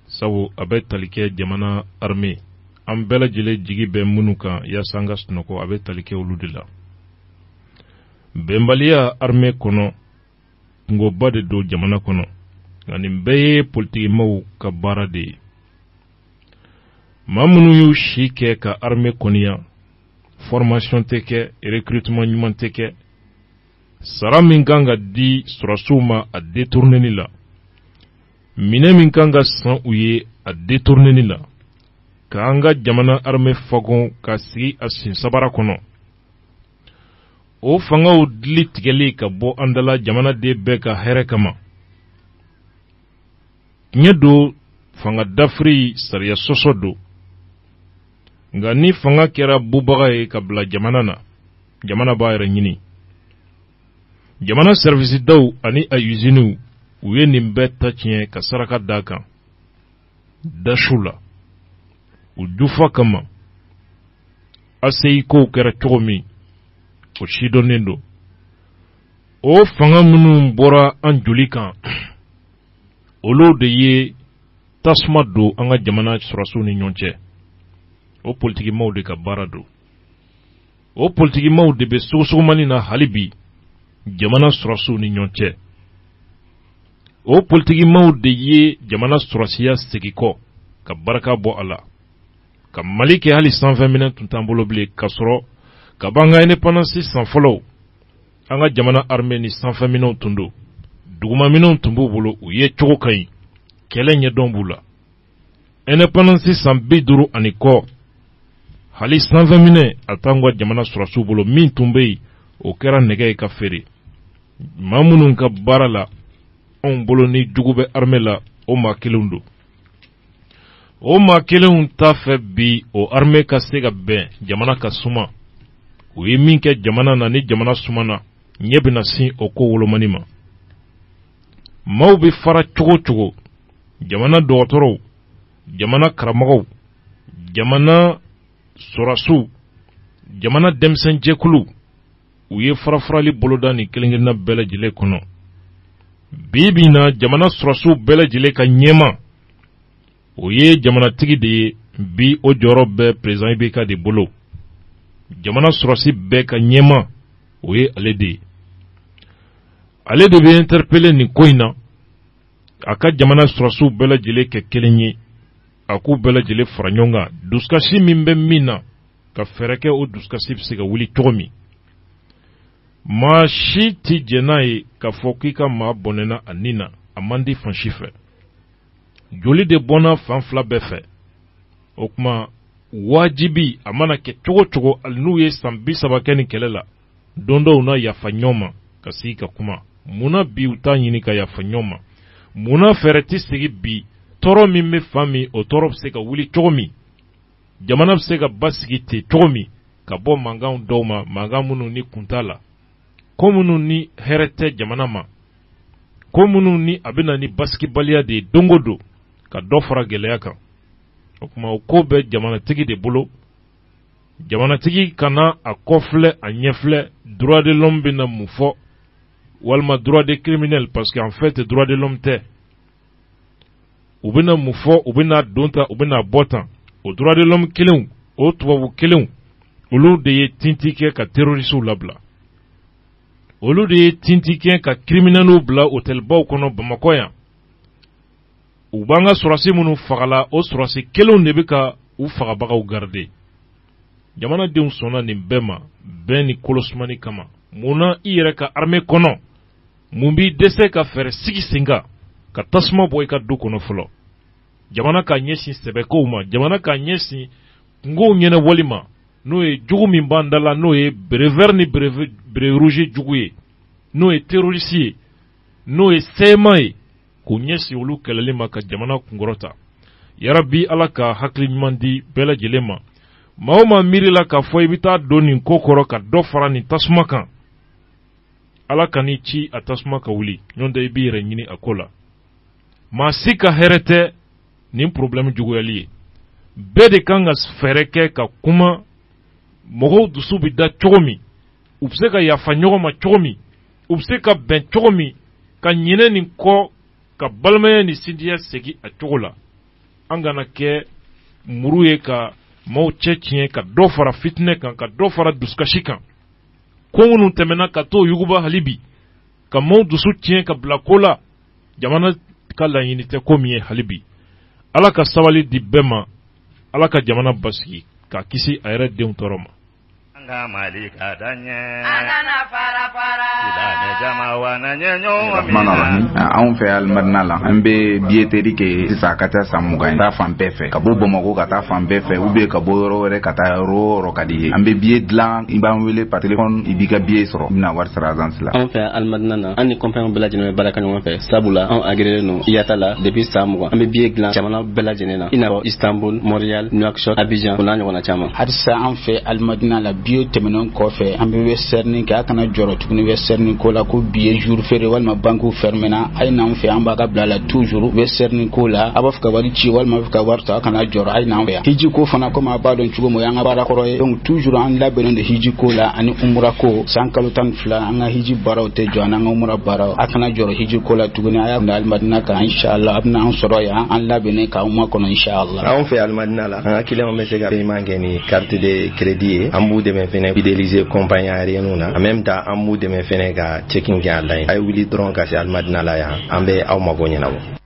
sabu a bɛ tali kɛ jamana armée an bɛɛ lajɛlen jigi bɛ minnu kan yaasa an ka sunɔgɔ a bɛ tali kɛ olu de la bɛnbaliya armée kɔnɔ kunkoba de don jamana kɔnɔ nka nin bɛɛ ye politikimaw ka baara de ye maa minnu y'u si kɛ ka armée kɔniya formation tɛ kɛ recrutement ɲuman tɛ kɛ sara min kan ka di sɔrɔsiw ma a detourneli la minɛn min kan ka san u ye a detourneli la k'an ka jamana armée fagon k'a sigi a sen sabara kɔnɔ o fangaw dili tigɛli ka bɔ an da la jamanaden bɛɛ ka hɛrɛ kama tiɲɛ don fanga dafiri sariya sɔsɔ don nka ni fanga kɛra bubaga ye ka bila jamana na jamana b'a yɛrɛ ɲini jamana sɛriwisidaw ani a uziniw u ye nin bɛɛ ta tiɲɛ ka saraka d'a kan da su la u jufa kama aseyi kow kɛra cogo min o sidɔnnen don o fanga minnu bɔra an joli kan olu de ye tasuma don an ka jamana sɔrɔsiw ni ɲɔgɔn cɛ o politikimaaw de ka baara don o politikimaw de bɛ sogosogomani na hali bi jamana sɔrɔsiw ni ɲɔgɔn cɛ o politikimaw de ye jamana sɔrɔsiya segin kɔ ka barika bɔ a la ka mali kɛ hali sanfɛminɛ tun t'an bolo bilen ka sɔrɔ kab'an ka indépendance san fɔlɔw an ka jamana armée ni sanfɛminɛw tun don dugumaminɛw tun b'u bolo u ye cogo ka ɲi kɛlɛ ɲɛdɔn b'u la indépendance san bi duuru ani kɔ hali sanfɛminɛ a t'an ka jamana sɔrɔsiw bolo min tun bɛ yen o kɛra nɛgɛ ye ka feere maa minnu ka baara la anw bolo ni jugu bɛ armée la o maa kelenw don o maa kelenw t'a fɛ bi o armée ka se ka bɛn jamana ka suma u ye min kɛ jamana na ni jamana sumana ɲɛ bɛna sin o ko wolomani ma maaw bɛ fara cogo cogo jamana dɔgɔtɔrɔw jamana karamɔgɔw jamana sɔrɔsiw jamana denmisɛnjɛkuluw u ye farafarali boloda nin kelenkelenna bɛɛ lajɛlen kɔnɔ bi bi in na jamana sɔrɔsiw bɛɛ lajɛlen ka ɲɛmaa o ye jamanatigi de ye bi o jɔyɔrɔ bɛɛ président IBK de bolo jamana sɔrɔsi bɛɛ ka ɲɛmaa o ye ale de ye ale de bɛ interpellé nin ko in na a ka jamana sɔrɔsiw bɛɛ lajɛlen kɛ kelen ye a k'u bɛɛ lajɛlen fara ɲɔgɔn kan dusukasi min bɛ min na ka fɛɛrɛ kɛ o dusukasi bɛ se ka wuli cogo min maa si tɛ jɛn n'a ye k'a fɔ k'i ka maa bɔnɛna a ni na a man di fan si fɛ joli de bɔnna fan fila bɛɛ fɛ o tuma wajibi a mana kɛ cogo cogo hali n'u ye san bi saba kɛ nin kɛlɛ la don dɔ u na yafa ɲɔgɔn ma ka sigi ka kuma munna bi u t'a ɲini ka yafa ɲɔgɔn ma munna fɛɛrɛ tɛ sigi bi tɔɔrɔ min bɛ fan min o tɔɔrɔ bɛ se ka wuli cogo min jamana bɛ se ka basigi ten cogo min ka bɔ mankanw dɔw ma mankan minnu ni kun t'a la ko minnu ni hɛrɛ tɛ jamana ma ko minnu ni a bɛ na ni basigibaliya de ye don o don ka dɔ fara gɛlɛya kan o tuma o ko bɛ jamanatigi de bolo jamanatigi kana a kɔ filɛ a ɲɛ filɛ droit de l'homme bɛna mun fɔ walima droit de criminel parce que en fait droit de l'homme tɛ u bɛna mun fɔ u bɛna don tan u bɛna bɔ tan o droit de l'homme kelenw o tubabu kelenw olu de ye tinti kɛ ka terroristew labila olu de ye tinti kɛ ka criminelw bila hôtelbaw kɔnɔ bamakɔ yan u b'an ka sɔrɔsi minnu fagala o sɔrɔsi kelenw de bɛ ka u fagabagaw garide jamanadenw sɔnna nin bɛɛ ma bɛn ni kolosumani kama mun na i yɛrɛ ka armee kɔnɔ mun b'i dɛsɛ ka fɛɛrɛ sigi sen kan ka tasuma bɔ i ka du kɔnɔ fɔlɔ jamana k'a ɲɛsin sɛbɛkow ma jamana k'a ɲɛsin kunkow ɲɛnabɔli ma n'o ye jugu min b'an da la n'o ye béret vert ni béret rouge jugu ye n'o ye terɔrisi ye n'o ye cma ye k'u ɲɛsin olu kɛlɛli ma ka jamana kunkɔrɔta ya rabi ala ka hakili ɲuman di bɛɛ lajɛlen ma maa o maa miiri la k'a fɔ i bɛ taa don nin ko kɔrɔ ka dɔ fara nin tasuma kan ala ka n'i ci a tasuma ka wuli ɲɔgɔn tɛ i b'i yɛrɛ ɲini a ko la maa si ka hɛrɛ tɛ nin porobilɛmu juguyali ye bɛɛ de kan ka fɛɛrɛ kɛ ka kuma mɔgɔw dusu bɛ da cogo min u bɛ se ka yafa ɲɔgɔn ma cogo min u bɛ se ka bɛn cogo min ka ɲinɛ nin kɔ ka balimaya ni sinjiya segin a cogo la an kana kɛ muru ye ka maaw cɛ tiɲɛ ka dɔ fara fitinɛ kan ka dɔ fara dusukasi kan ko minnu tɛmɛna ka t'o yuguba hali bi ka maaw dusu tiɲɛ ka bila ko la jamana ka laɲini tɛ ko min ye hali bi ala ka sabali di bɛɛ ma ala ka jamana basigi k'a kisi a yɛrɛ denw tɔɔrɔ ma An ka Mali ka taa ɲɛ, an kana fara fara, silamɛ jama wa na ɲɛ ɲɔgɔn minɛ. Anw fɛ Alimadina la, an bɛ billetterie kɛ sisan a ka ca san mugan ye, ka taa fan bɛɛ fɛ, ka bɔ Bamakɔ ka taa fan bɛɛ fɛ ou bien ka bɔ yɔrɔ wɛrɛ ka taa yɔrɔ o yɔrɔ ka d'i ye. An bɛ billet dilan, i b'an wele par téléphone i b'i ka billet sɔrɔ, i bɛna wari sara agence la. Anw fɛ Alimadina na, an ni compagnies bɛɛ lajɛlen bɛ baara kɛ ɲɔgɔn fɛ, sabula anw agréelen don IATA la depuis san mugan, an bɛ billet dilan jamana bɛɛ lajɛlen na. i n'a fɔ istanbul montreal nouakchott abidjan o n'a ɲɔgɔnna caman halisa an fɛ alimadina la biyew tɛmɛnen kɔfɛ an bɛ western union kɛ a kana jɔrɔ tuguni western union ko la ko bi ye jour férié walima bankiw fɛrɛmɛna a ye n'an fɛ an b'a ka bila la toujours western union ko la a b'a fɛ ka wari ci walima a b'a fɛ ka wari ta a kana jɔrɔ a ye n'an fɛ yan hiji ko fana komi a b'a dɔn cogo min o y'an ka baara kɔrɔ ye donc toujours an labɛnnen don hiji ko la ani umura ko san kalo tan fila an ka hiji baaraw tɛ jɔ an ka umra baaraw a kana jɔrɔ hiji ko la tuguni a y'a bila alimadina kan inshallah a bɛna an sɔrɔ yan an labɛnnen k'aw makɔnɔ inshallah anw fɛ alimadina la an ka kiliyanw bɛ se ka paiement kɛ ni carte de crédit ye an b'u dɛmɛ fɛnɛ fidéliser compagnie aérienne na en même temps an b'u dɛmɛ fɛnɛ ka check-in kɛ online a ye wuli dɔrɔn ka se alimadina la yan an bɛ aw mago ɲɛnabɔ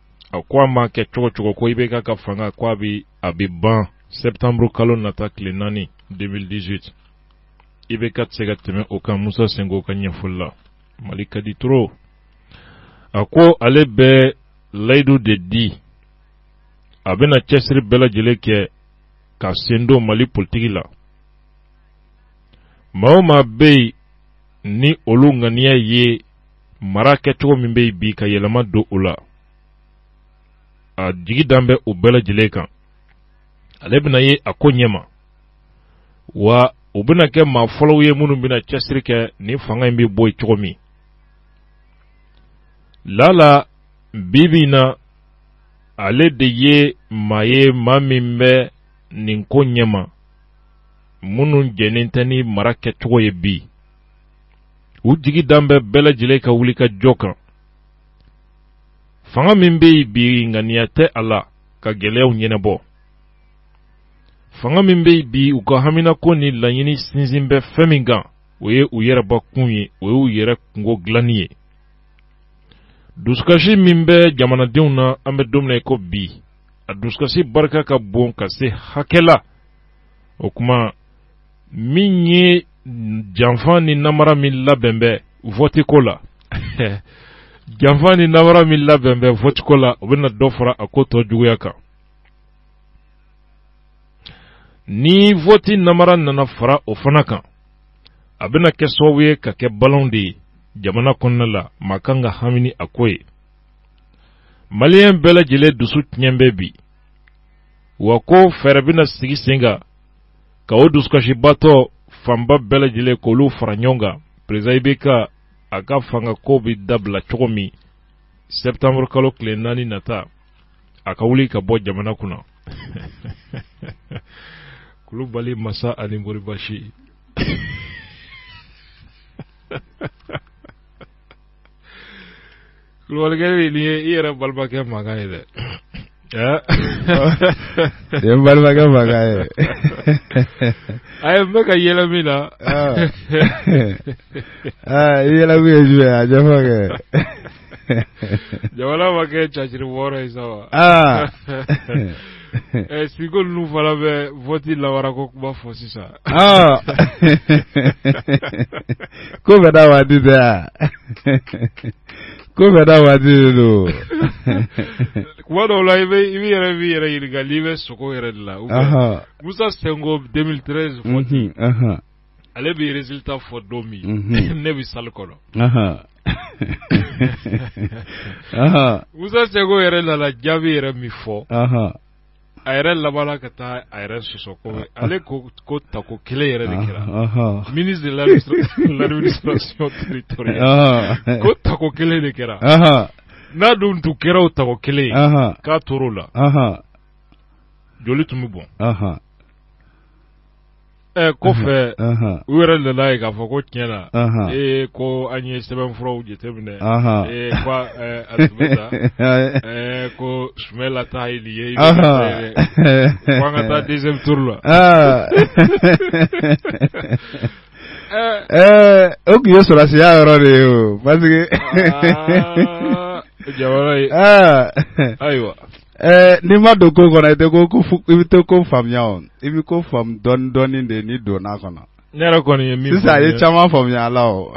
a ko a ma kɛ cogo o cogo ko ibk ka fanga ko a bɛ a bɛ ban septembre kalo nata tile naani 2018 ibk tɛ se ka tɛmɛ o kan musa sinko ka ɲɛfɔli la mali ka di toro a ko ale bɛ layidu de di a bɛna cɛsiri bɛɛ lajɛlen kɛ k'a sen don mali politiki la maa o maa bɛ yen ni olu ŋaniya ye mara kɛcogo min bɛ yen bi ka yɛlɛma don o la a jigi dan bɛ o bɛɛ lajɛlen kan ale bɛna ye a ko ɲɛma wa u bɛna kɛ maa fɔlɔw ye minnu bɛna cɛsiri kɛ nin fanga in bɛ bɔ yen cogo min la a la bi bi in na ale de ye maa ye maa min bɛ nin ko ɲɛma minnu jɛnnen tɛ ni mara kɛcogo ye bi u jigi dan bɛ bɛɛ lajɛlen ka wuli ka jɔ kan fanga min bɛ yen bi ŋaniya tɛ a la ka gɛlɛyaw ɲɛnabɔ fanga min bɛ yen bi u ka haminako ni laɲini sinsin bɛ fɛn min kan o ye u yɛrɛbakun ye o ye u yɛrɛ kunko dilanni ye dusukasi min bɛ jamanadenw na an bɛ don min na i ko bi a dusukasi barika ka bon ka se hakɛ la o tuma min ye janfa ni namara min labɛn bɛ vɔtiko la janfa ni namara min labɛn bɛ vɔtiko la u bɛna dɔ fara a ko tɔ juguya kan ni vɔti namara nana fara o fana kan a bɛna kɛ sababu ye ka kɛ balan de ye jamana kɔnɔna la maa kan ka hamini a ko ye maliyɛn bɛɛ lajɛlen dusu tiɲɛ bɛ bi wa ko fɛɛrɛ bɛna sigi sen kan ka o dusukasibatɔ fanba bɛɛ lajɛlen k'olu fara ɲɔgɔn kan perezidan IBK a ka fanga ko bɛ dabila cogo min sɛtanburukalo tile naani nata a ka wuli ka bɔ jamana kunna kulubali masa ani mori basi Kulubalikɛ nin ye i yɛrɛ balimakɛ mankan ye dɛ nin ye balimakɛ mankan ye a ye bɛ ka yɛlɛ mun na i yɛlɛ kun ye jumɛn a jɛfɔ kɛ jamana ma kɛ caciri wɔɔrɔ ye sa wa Ɛ suko ninnu fana bɛ vɔti la wa ko kuma fɔ sisan ko bɛ da waati tɛ ko bɛ da waati don kuma dɔw la i bɛ i bɛ yɛrɛ bɛ yɛrɛ ɲininka k'i bɛ sugo yɛrɛ de la musa sinko deux mille treize ale bɛ résultat fɔ don min ne bɛ sali kɔnɔ musa sinko yɛrɛ nana jaabi yɛrɛ min fɔ a yɛrɛ labanna ka taa a yɛrɛ sɔsɔ ko ale ko ko tako kelen yɛrɛ de kɛra ministre de l'administration territoriale ko tako kelen de kɛra n'a dun tun kɛra o tako kelen ye k'a to o la joli tun bɛ bɔn Ɛ kɔfɛ u yɛrɛ nana a ye k'a fɔ ko tiɲɛ na ee ko an ye sɛbɛn furaw jateminɛ ko sumɛla taa ye ye ko an ka taa deuxième tour la ɛɛ o tun ye sɔsiya yɔrɔ de ye o parce que ayiwa Ɛɛ n'i ma don ko kɔnɔ i i bɛ tɛ ko faamuya i bɛ ko faamu dɔɔni dɔɔni de n'i donna a kɔnɔ ne yɛrɛ kɔni ye min sisan a ye caman faamuya ala o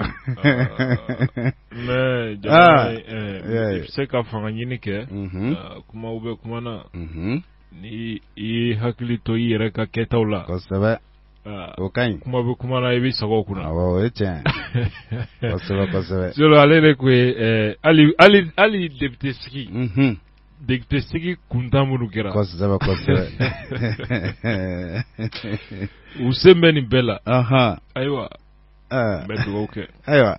mɛ ah, i bɛ se ka fanga ɲini kɛ mhm. ah, kuma bɛ kuma na mhm. ni i hakili to i yɛrɛ ka kɛtaw la kosɛbɛ ah, o ka ɲi kuma bɛ kuma na i bɛ sago kunna o ye tiɲɛ kosɛbɛ kosɛbɛ ale de tun ye hali hali député sigi mhm. député sigi kuntan minnu kɛra u sen bɛ nin bɛɛ la ayiwa an bɛ dugawu kɛ ayiwa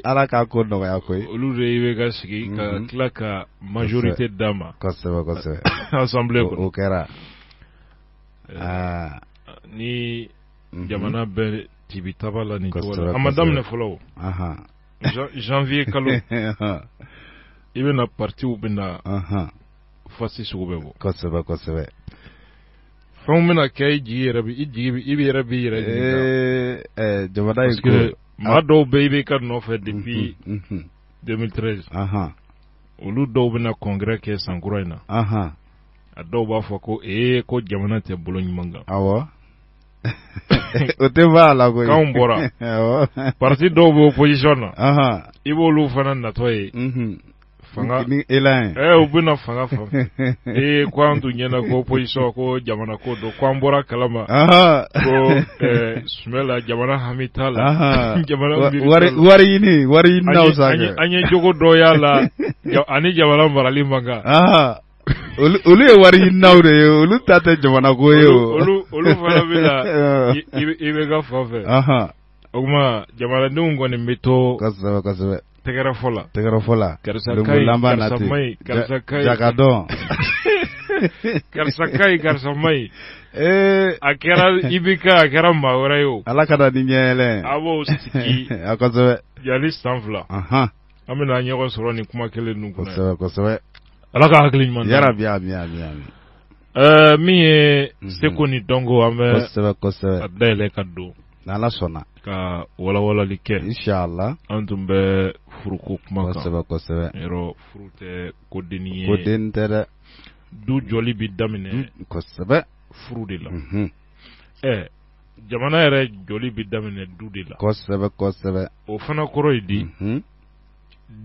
ala k'a ko nɔgɔya koyi olu de ye IBK sigi ka mhm. tila ka majorité d'a ma assemblée kɔnɔ eh, ni mhm. jamana bɛ tibi taba la nin a ma daminɛ fɔlɔ janvier kalo i bɛna partiw bɛna fasi sugu bɛɛ bɔ kosɛbɛ kosɛbɛ fɛnw bɛna kɛ i jigi yɛrɛ i jigi i bɛ yɛrɛ b'i yɛrɛ jigin jamana in ko maa dɔw bɛ IBK nɔfɛ depuis 2013 olu dɔw bɛna congrès kɛ san kura in na a dɔw b'a fɔ ko ee ko jamana tɛ bolo ɲuman kan awɔ o tɛ b'a la koyi kanw bɔra parti dɔw bɛ opposition na i b'olu fana natɔ ye fanga ni elan ye ɛɛ u bɛna fanga fan ee ko an tun ɲɛna ko opposition ko jamana ko don ko an bɔr'a kalama ko ɛɛ sumɛla jamana hami t'a la jamana wari wari ɲini wari ɲini n'aw sa an ye jogo dɔ y'a la ani jamana marali man kan olu ye wari ɲininaw de ye olu ta tɛ jamana ko ye olu fana bɛ la IBK fan fɛ o tuma jamanadenw kɔni bɛ to kosɛbɛ kosɛbɛ tɛgɛrɛ fɔ la tɛgɛrɛ fɔ la karisa karisa karisa dɔn karisa ka ɲi karisa man ɲi ee a kɛra IBK a kɛra maa wɛrɛ ye o ala ka da ni ɲɛ yɛlɛ a b'o sigi a kosɛbɛ yanni san fila an bɛna ɲɔgɔn sɔrɔ ni kuma kelen ninnu kɔnɔ kosɛbɛ kosɛbɛ ala ka hakili ɲuman d'an ma. yarabi ami ami ami Ɛɛ, min ye Mhm. seko ni dɔnko an bɛ kosɛbɛ kosɛbɛ a dayɛlɛ ka don n'ala sɔnna ka walawalali kɛ inshallah an tun bɛ furuko kuma kan kosɛbɛ kosɛbɛ yɔrɔ furu tɛ ko denni ye ko denni tɛ dɛ du jɔli bɛ daminɛ kosɛbɛ furu de la Mhm. ɛɛ jamana yɛrɛ jɔli bɛ daminɛ du de la kosɛbɛ kosɛbɛ o fana kɔrɔ ye di mhm.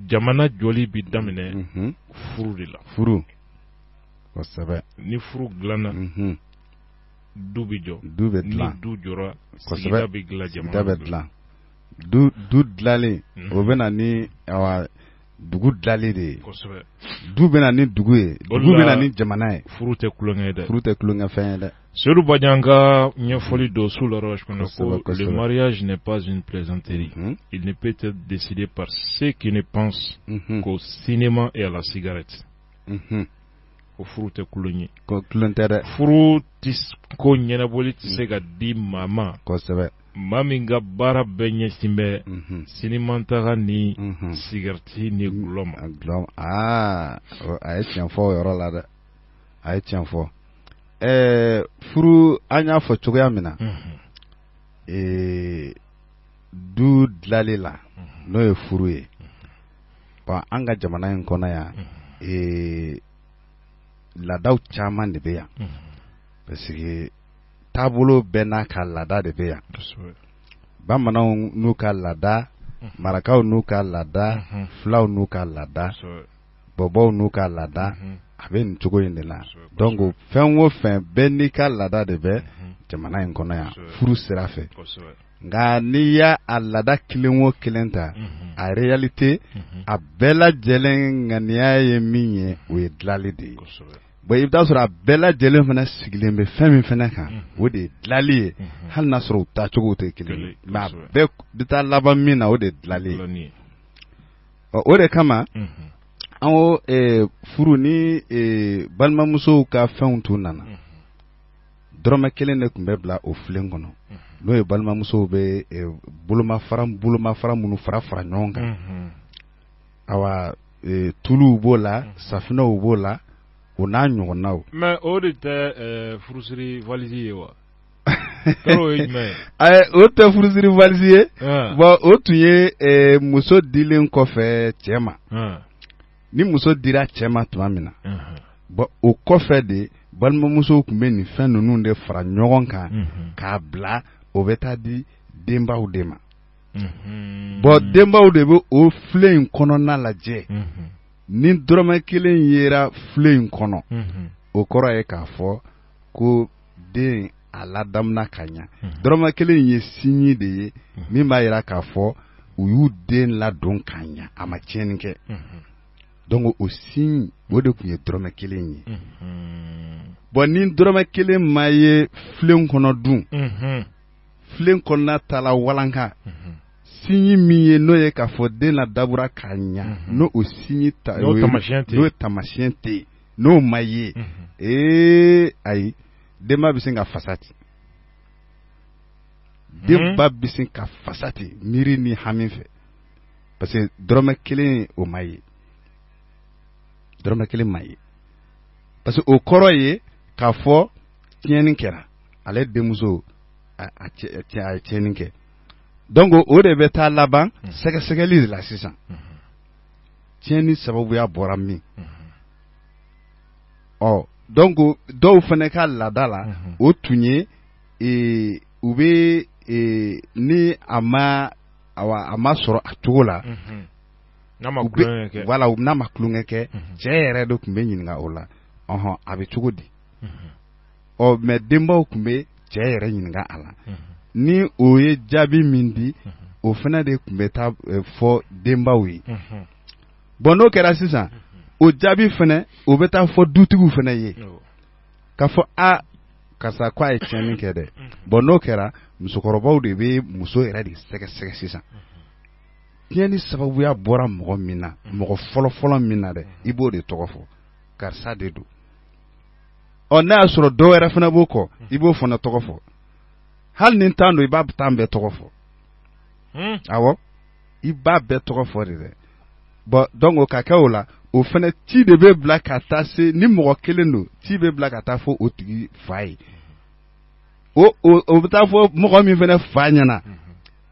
jamana jɔli bɛ daminɛ mhm. furu de la furu kosɛbɛ ni furu dilanna mhm. du bɛ jɔ du bɛ dilan ni du jɔra sigida bɛ dilan jamana bɛ dilan du du dilali o bɛ na ni awa dugu dilali de ye du bɛ na ni dugu ye dugu bɛ na ni jamana ye furu tɛ tulonkɛ ye dɛ furu tɛ tulonkɛfɛn ye dɛ Seydou Badian ka ɲɛfɔli dɔ Sous l'orage kɔnɔ ko le mariage n'est pas une plaisanterie mm -hmm. il ne peut être décidé par ceux qui ne pensent mm -hmm. qu'au cinéma et à la cigarette mm -hmm. ko furu tɛ tulon ye ko tulon tɛ dɛ furu ko ɲɛnabɔli tɛ se ka di maa ma kosɛbɛ maa min ka baara bɛɛ ɲɛsin bɛ sinimataga ni sigarɛti ni dɔlɔ ma a ye tiɲɛ fɔ yɔrɔ la dɛ a ye tiɲɛ fɔ ɛɛ furu an y'a fɔ cogoya min na ee du dilali la n'o ye furu ye bɔn an ka jamana in kɔnɔ yan ee laadaw caman de bɛ yan parce que taabolo bɛɛ n'a ka laada de bɛ yan bamananw n'u ka laada marakaw n'u ka laada fulaw n'u ka laada bɔbɔw n'u ka laada a bɛ nin cogo in de la donc fɛn o fɛn bɛɛ n'i ka laada de bɛ jamana in kɔnɔ yan furu sira fɛ nka n'i y'a a laada kelen o kelen ta a réalité a bɛɛ lajɛlen ŋaniya ye min ye o ye dilanli de ye bon i bɛ t'a sɔrɔ a bɛɛ lajɛlen fana sigilen bɛ fɛn min fana kan o de ye dilali ye hali n'a sɔrɔ u taacogo tɛ kelen ye mais a bɛɛ bɛ taa laban min na o de dilali ye ɔ o de kama an ko furu ni balimamusow ka fɛnw tun nana dɔrɔmɛ kelen de tun bɛ bila o filen kɔnɔ n'o ye balimamusow bɛ bolomafara bolomafara minnu fara fara ɲɔgɔn kan tuluw b'o la safinɛw b'o la o n'a ɲɔgɔnnaw mais o de tɛ furusiri valizi ye wa ayi o tɛ furusiri valizi ye bɔn o tun ye muso dilen kɔfɛ cɛ ma ni muso dira cɛ ma tuma min na bɔn o kɔfɛ de balimamusow tun bɛ nin fɛn ninnu de fara ɲɔgɔn kan k'a bila o bɛ taa di denbaw de ma bɔn denbaw de bɛ o filen in kɔnɔna lajɛ ni dɔrɔmɛ kelen yera filen in kɔnɔ o kɔrɔ ye k'a fɔ ko den a ladamuna ka ɲɛ dɔrɔmɛ kelen in ye signe de ye min b'a jira k'a fɔ u y'u den ladon ka ɲɛ a ma tiɲɛni kɛ dɔnku o signe o de tun ye dɔrɔmɛ kelen ye bɔn ni dɔrɔmɛ kelen ma ye filen kɔnɔ dun filen kɔnɔna taala walanka signe min ye n'o ye k'a fɔ den ladamuna ka ɲa n'o o signe ta N'o o ye- taamasiyɛn tɛ yen. n'o taamasiyɛn tɛ yen n'o ma ye ee ayi denba bɛ sin ka fasa ten denba bɛ sin ka fasa ten miiri ni hami fɛ parce que dɔrɔmɛ kelen o ma ye dɔrɔmɛ kelen ma ye parce que o kɔrɔ ye k'a fɔ tiɲɛni kɛra ale denmuso a ye tiɲɛni kɛ donc o de bɛ taa laban mhm. sɛgɛsɛgɛli de la sisan mhm. tiɲɛni sababuya bɔra min ɔ donc dɔw fana ka laada la o tun ye e, u bɛ e, ni a ma awa a ma sɔrɔ a cogo la n'a ma tulonkɛ kɛ wala n'a ma tulonkɛ kɛ cɛ yɛrɛ de tun bɛ ɲininka o la ɔhɔn a bɛ cogo di ɔ mɛ denbaw tun bɛ cɛ yɛrɛ ɲininka a la ni o ye jaabi min di o fana de tun bɛ taa fɔ denbaw ye bɔn n'o kɛra sisan o jaabi fana o bɛ taa fɔ dutigiw fana ye k'a fɔ a karisa k'a ye tiɲɛni kɛ dɛ bɔn n'o kɛra musokɔrɔbaw de bɛ muso yɛrɛ de sɛgɛsɛgɛ sisan tiɲɛni sababuya bɔra mɔgɔ min na mɔgɔ fɔlɔfɔlɔ min na dɛ i b'o de tɔgɔ fɔ karisa de don ɔ n'a y'a sɔrɔ dɔ wɛrɛ fana b'o kɔ i b'o fana tɔgɔ fɔ hali ni tan don i b'a tan bɛɛ tɔgɔ fɔ hmm. awɔ i b'a bɛɛ tɔgɔ fɔ de dɛ bɔn dɔnku ka kɛ o la o fana ci de bɛ bila ka taa se ni mɔgɔ kelen don ci bɛ bila ka taa fɔ o tigi fa ye o o o bɛ taa fɔ mɔgɔ min fana fa ɲɛna hmm.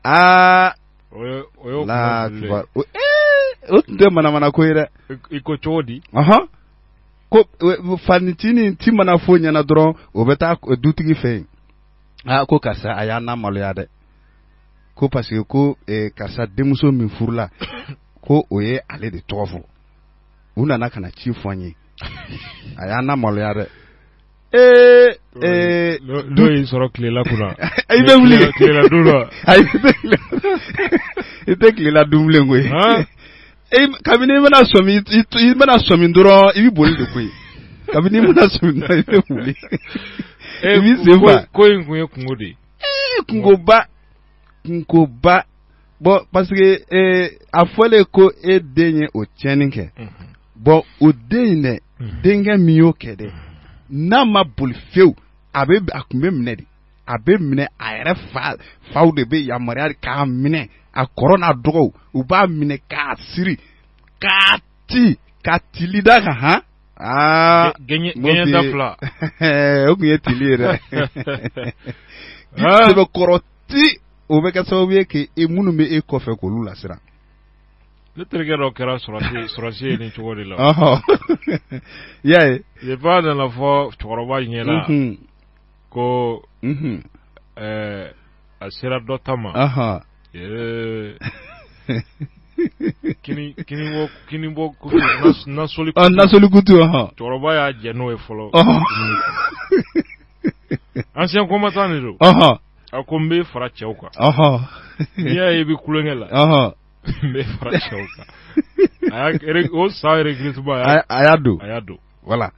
aa o ye o y'o kuma o tun tɛ manamana ko ye dɛ i ko cogo di ɔhɔn ko fa nin ci nin ci mana f'o ɲɛna dɔrɔn o bɛ taa dutigi fɛ yen aa ko karisa a y'an lamaloya dɛ ko parce que ko karisa denmuso min furula ko o ye ale de tɔgɔ fɔ u nana ka na ci fɔ an ye a y'an lamaloya dɛ Ee ee dɔ y'i sɔrɔ tilela kunna i bɛ wuli tilela don dɔ i tɛ tilela dun bilen koyi kabini i mana sɔmi i mana sɔmi dɔrɔn i bɛ boli de koyi kabini i mana sɔmi dɔrɔn i bɛ wuli i b'i sen fa ko in kun ye kunko de ye kunkoba kunkoba bɔn parce que a fɔlen ko e den ye o tiɲɛni kɛ bɔn o den in dɛ mhm. denkɛ min y'o kɛ dɛ n'a ma boli fewu a bɛ a tun bɛ minɛ de a bɛ minɛ a yɛrɛ fa faw de bɛ yamaruya k'a minɛ a kɔrɔ n'a dɔgɔw u b'a minɛ k'a siri k'a ti ka tili d'a kan han aa gɛɲɛ da fila o tun ye tili ye dɛ sɛbɛkɔrɔ ti o bɛ kɛ sababu ye k'e minnu bɛ e kɔfɛ k'olu lasiran Ne terikɛ dɔ kɛra sɔrɔdasi ye nin cogo de la y'a ye ba nana fɔ cɛkɔrɔba ɲɛ na ko a sera dɔ ta ma nasolikutu cɛkɔrɔba y'a gɛn n'o ye fɔlɔ ancien combattant de don a ko n bɛ fara cɛw kan n'i y'a ye bɛ kukɛ la n bɛ fara cɛw kan a y'a o san yɛrɛ gilisiba y'a a y'a don a y'a don voilà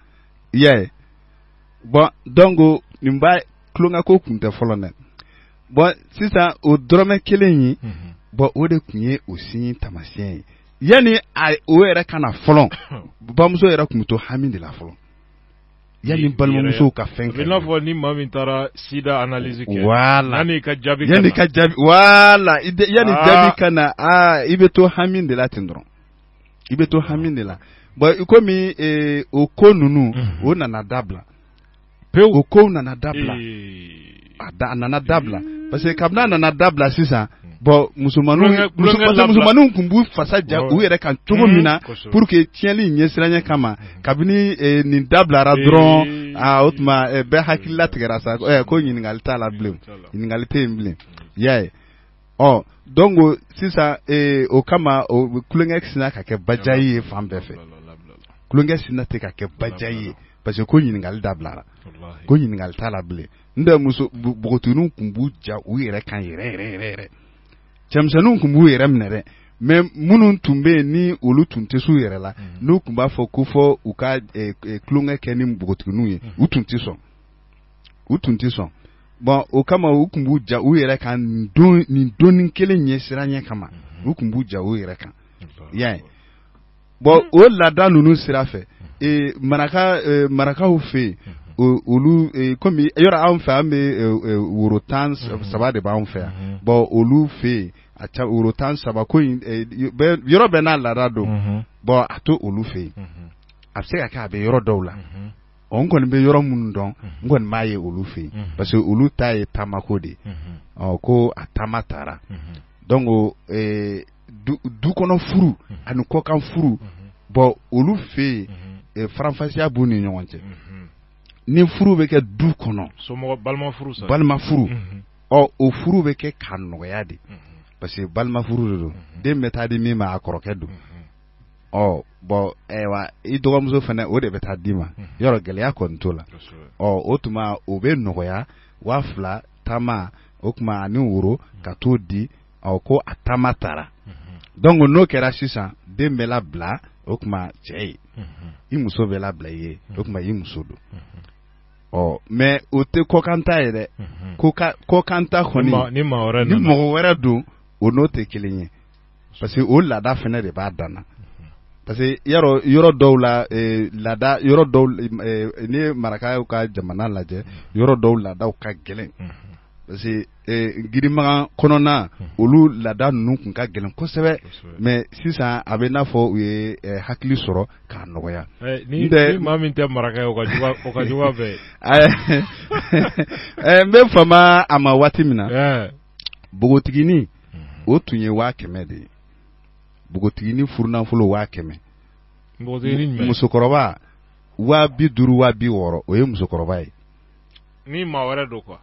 i y'a ye bon donc nin b'a tulonkɛko kun tɛ fɔlɔ dɛ bon sisan o dɔrɔmɛ kelen in mhm. bon o de tun ye o signe taamasiyɛn ye yanni a o yɛrɛ ka na fɔlɔ bamuso yɛrɛ tun bɛ to hami de la fɔlɔ Yanni balimamusow ka fɛn kɛ i n'a fɔ ni maa min taara sida analyse kɛ yanni ka jaabi yanni jaabi ka na aa i bɛ to hami de la ten dɔrɔn i bɛ to hami de la bɔn i komi o ko ninnu o nana dabila pe o ko nana dabila a nana dabila parce que kabini a nana dabila sisan bɔn musomanw musomanninw tun b'u fasa ja u yɛrɛ kan cogo min na pour que tiɲɛli ɲɛsiranya kama kabini eh, nin dabilara dɔrɔn ah, o tuma eh, bɛɛ hakili latigɛra sa eh, ko ɲininkali t'a la bilen ɲininkali tɛ yen bilen y'a ye ɔ donc o sisan ee o kama o bɛ tulonkɛ sinna ka kɛ pagaille ye fan bɛɛ fɛ tulonkɛ sinna ten ka kɛ pagaille ye parce que ko ɲininkali dabilara walahi ko ɲininkali t'a la bilen n'o tɛ muso bu- npogotigininw tun b'u ja u yɛrɛ kan yɛrɛ yɛrɛ yɛrɛ yɛrɛ cɛmisɛnninw tun b'u yɛrɛ minɛ dɛ mais minnu tun bɛ yen ni olu tun tɛ s'u yɛrɛ la Mhm. n'u tun b'a fɔ ko fɔ u ka eh, eh, tulonkɛ kɛ ni npogotigininw ye u tun tɛ sɔn u tun tɛ sɔn bɔn o kama u tun b'u ja u yɛrɛ kan nin doni kelen ɲɛsiranɲɛ kama u tun b'u ja u yɛrɛ kan y'a ye bɔn o laada ninnu sira fɛ maraka marakaw fɛ yen olu kɔmi yɔrɔ anw fɛ an bɛ woro tan saba de b'an fɛ yan bɔn olu fɛ yen a ca woro tan saba ko yɔrɔ bɛɛ n'a laada don bɔn a to olu fɛ yen a bɛ se ka kɛ a bɛ yɔrɔ dɔw la ɔ n kɔni bɛ yɔrɔ minnu dɔn n kɔni b'a ye olu fɛ yen parce que olu ta ye tamako de ye ɔ ko a tama taara donc euh, du du kɔnɔ furu ani kɔkan furu bon olu fɛ yen faranfasiya b'u ni ɲɔgɔn cɛ ni furu bɛ kɛ du kɔnɔ somɔgɔ balima furu sa balima furu ɔ o furu bɛ kɛ ka nɔgɔya de parce que balima furu de don den bɛ taa di min ma a kɔrɔkɛ don ɔ bɔn ayiwa i dɔgɔmuso fana o de bɛ taa d'i ma yɔrɔ gɛlɛya kɔni t'o la ɔ o tuma o bɛ nɔgɔya waa fila tama o tuma ani woro ka t'o di ɔ ko a tama taara dɔnku n'o kɛra sisan den bɛ labila o tuma cɛ ye i muso bɛ labila i ye o tuma i muso don ɔ mɛ o tɛ kɔkan ta yɛrɛ kɔkan ta kɔni ni mɔgɔ wɛrɛ don o n'o tɛ kelen ye parce que o laada fana de b'a dan na parce que yɔrɔ yɔrɔ dɔw la eh, laada yɔrɔ dɔw eh, n'i ye marakaw ka jamana lajɛ yɔrɔ dɔw laadaw ka gɛlɛn parce que eh, girimagan kɔnɔna olu laada ninnu tun ka gɛlɛn kosɛbɛ mais sisan a bɛ n'a fɔ u ye eh, hakili sɔrɔ k'a nɔgɔya Eh, ni, Ntɛ- ni maa min tɛ maraka ye o ka jugu a- o ka jugu a fɛ Eh, n bɛ fama a ma waati min na Eh, npogotiginin o tun ye waa kɛmɛ de ye npogotiginin furunafolo waa kɛmɛ musokɔrɔba waa bi duuru waa bi wɔɔrɔ o ye musokɔrɔba ye ni maa wɛrɛ don kuwa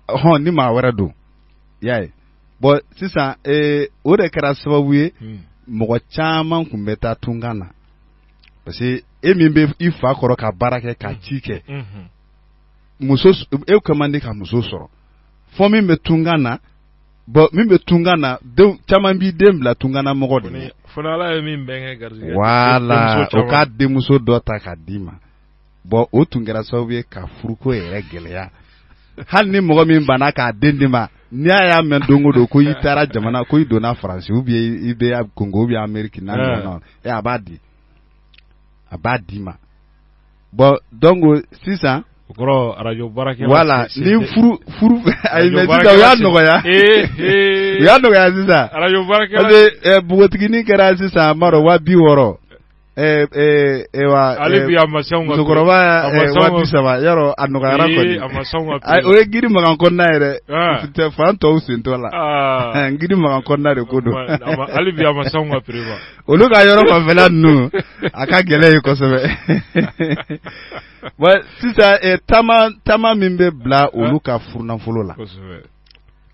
hɔn ni maa wɛrɛ don y'a ye bɔn sisan ee, o de kɛra sababu ye hmm. mɔgɔ caman tun bɛ taa tunkan na parce que e min bɛ i fa kɔrɔ ka baara kɛ ka hmm. ci kɛ hmm. muso e ka man di ka muso sɔrɔ fɔ min bɛ tunkan na bɔn min bɛ tunkan na caman b'i den bila tunkan na mɔgɔ de ye wala o ka denmuso dɔ ta k'a d'i ma bɔn o tun kɛra sababu ye ka furuko yɛrɛ gɛlɛya hali ni mɔgɔ min banna k'a den d'i ma n'i y'a y'a mɛn don o don ko i taara jamana ko i donna faransi ou bien i bɛ kongo ou bien ameriki n'a ɲɔgɔn a b'a di a b'a d'i ma bɔn donc sisan araj wala ni y'a nɔgɔya u y'a nɔgɔya sisan araj npogotiginin kɛra sisan a madɔ waa bi wɔɔrɔ musokɔrɔba saba yɔrɔ a nɔgɔyara o ye Gidimakan kɔnɔna yɛrɛ tɛ fan tɔw sen t'o la Gidimakan kɔnɔna de ko don olu ka yɔrɔ fanfɛla ninnu a ka gɛlɛn yen kosɛbɛ bon sisan eh, taama taama min bɛ bila olu ka furunafolo la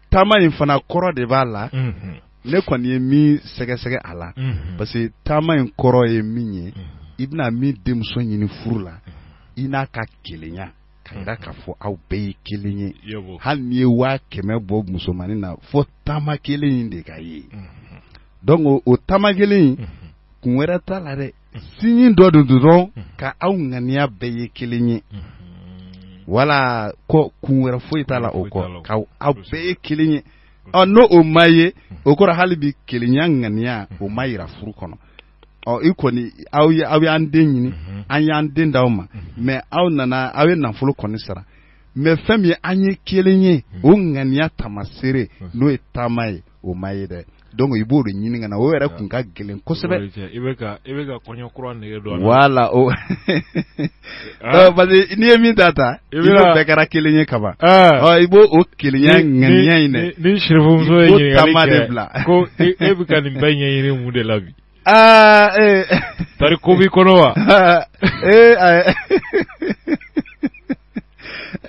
taama in fana kɔrɔ de b'a la mhm. ne kɔni ye min sɛgɛsɛgɛ a la mhm. parce que taama in kɔrɔ ye min ye mhm. i bɛna min denmuso ɲini furu la i n'a ka kelenya ka yira k'a fɔ aw bɛɛ ye kelen ye hali n'i ye waa kɛmɛ bɔ musomannin na fo taama kelen in de ka ye donc o taama kelen in kun wɛrɛ t'a la dɛ sinji dɔ don dɔrɔn ka aw ŋaniya bɛɛ ye kelen ye wala kɔ kun wɛrɛ foyi t'a la o kɔ ka aw bɛɛ ye kelen ye ɔ n'o o ma ye o kɔrɔ hali bi kelenya ŋaniya o ma yira furu kɔnɔ ɔ i kɔni aw ye aw y'an den ɲini mhm. an y'an den d'aw ma mhm. mais aw nana aw ye nafolo kɔni sara mais fɛn min ye an ye kelen ye mhm. o ŋaniya taamaseere n'o ye taama ye o ma ye dɛ donc i b'o de ɲini ka na o yɛrɛ kun ka gɛlɛn kosɛbɛ i bɛ ka kɔɲɔ kura nege don wala o Ah. Parce que n'i ye min ta ta i n'o bɛɛ kɛra kelen ye kaban ah. i b'o o kelenya ŋaniya in de ɲini sirifu muso ye ɲininkali kɛ ko e, e bɛ ka nin bɛɛ ɲɛɲini mun de la bi aa ah, ee eh. tari ko b'i kɔnɔ wa ee ayi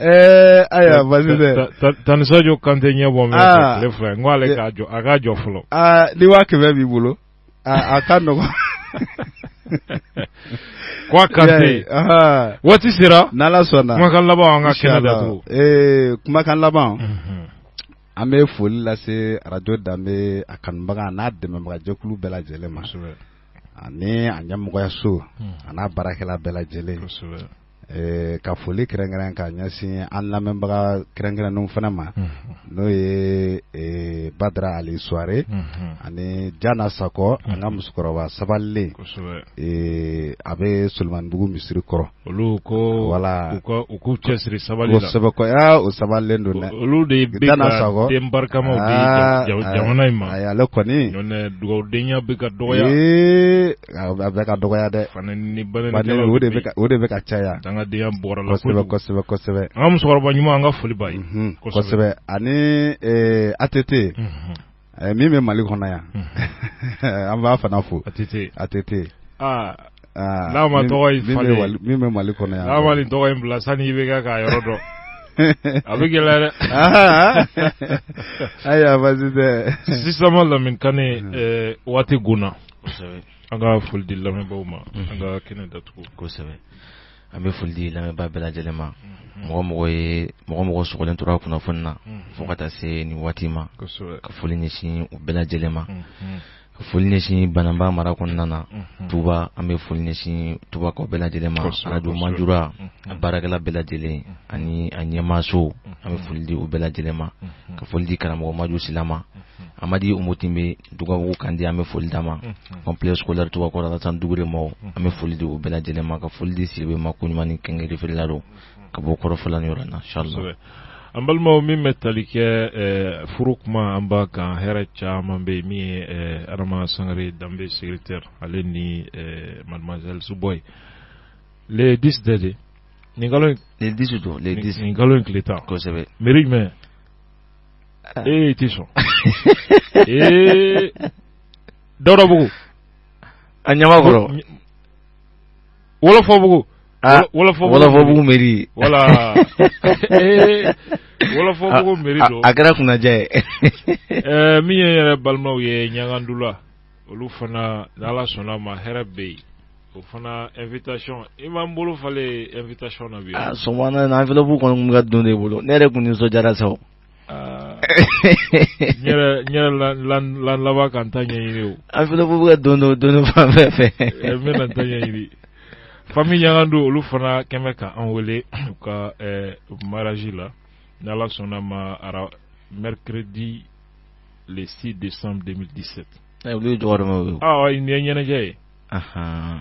ee ayiwa basi tɛ Tani Sajo Kante ɲɛ bɔ min fɛ tile fila n ko ale k'a jɔ a k'a jɔ fɔlɔ aa ni waa kɛmɛ b'i bolo a ka nɔgɔ ko a ka se waati sera n' ala sɔnna kumakan laban an ka kɛnɛ da ee kumakan laban an bɛ foli lase arajo danbe a kanubaga n'a dɛmɛbagajɛkulu bɛɛ lajɛlen ma ani a ɲɛmɔgɔyaso a n'a baarakɛla bɛɛ lajɛlen ɛɛ ka foli kɛrɛnkɛrɛn ka ɲɛsin an lamɛnbaga kɛrɛnkɛrɛnnenw fana ma, unhun, n'o ye ee Badara Ali Suware, unhun, ani Jana Sakɔ, unhun, an ka musokɔrɔba sabalilen, kosɛbɛ, ee a bɛ Solomanibugu misiri kɔrɔ, olu ko, voilà, u ka u k'u cɛsiri sabali la, kosɛbɛ ko aa o sabalilen don dɛ, olu de bɛ ka den barikamaw di jamana in ma, ayi ale kɔni, n'o tɛ dugawudenya bɛ ka dɔgɔya, ee bɛ ka dɔgɔya dɛ o de bɛ ka caya an ka denyaya bɔra la kosɛbɛ kosɛbɛ an musokɔrɔba ɲuman an ka foli kosɛbɛ ani a tɛ tɛ yen min bɛ mali kɔnɔ yan an b'a fana fo a tɛ a tɛ tɛ n'a ma min bɛ mali kɔnɔ yan n'a nin tɔgɔ in bila sani i bɛ kɛ k'a yɔrɔ dɔn a bɛ gɛlɛya dɛ ayiwa baasi tɛ sisan ma lamini kane waati gna an ka foli di lamɛnbaaw ma an ka kɛnɛ datugu kosɛbɛ an bɛ foli di lamɛnbaa bɛɛ lajɛlen ma mɔgɔ o mɔgɔ ye mɔgɔ o mɔgɔ sɔgɔlen tora kunnafoni na fo ka taa se nin waati ma ka foli ɲɛsin u bɛɛ lajɛlen ma ka foli ɲɛsin banamba mara kɔnɔna na tuba an bɛ foli ɲɛsin tubakaw bɛɛ lajɛlen ma arajo manjura a baarakɛla bɛɛ lajɛlen ani a ɲɛmaaso an bɛ foli di u bɛɛ lajɛlen ma ka foli di karamɔgɔ maju sila ma amadi umu tinbɛ dugabugu kandi an bɛ foli d'a ma complexe scolaire tubakɔrɔ alasani dukure ma an bɛ foli di u bɛɛ lajɛlen ma ka foli di siribe ma ko ɲuman kɛngɛrɛ feerela don ka bɔ kɔrɔfɔfɔla yɔrɔ na sa an balimaw min bɛ tali kɛ furu kuma an ba kan hɛrɛ caman bɛ min ye adama sangare danbe secrétaire ale ni mademoiselle subɔ ye le 10 tɛ de nin nin dusu don nin kalo in tile tan kosɛbɛ mi jumɛn ee i tɛ sɔn ee dawudabugu a ɲamakɔrɔ wɔlɔfɔbugu ah, wɔlɔfɔbugu meri wala ee wɔlɔfɔbugu meri don a kɛra kunnandiya ye eh, min ye yɛrɛ balimaw ye ɲangandula olu fana ni ala sɔnna ma hɛrɛ bɛ yen o fana invitation i m'an bolo falen invitation na bi ah, sɔgɔma na enveloppe kɔni tun ka don ne bolo ne yɛrɛ tun nisɔndiyara sa o ah. n yɛrɛ laban ka n ta ɲɛɲini o enveloppe bɛ ka don don don fan bɛɛ fɛ eh, n bɛna n ta ɲɛɲini fami ɲangandu olu fana kɔni bɛ ka an wele u ka eh, mariage la n'ala sɔnna ma ara mercredi le 6 décembre 2017 ɛ olu ye jɔgɔramɛw ye o ɔɔ nin ye ɲɛnajɛ ye anhan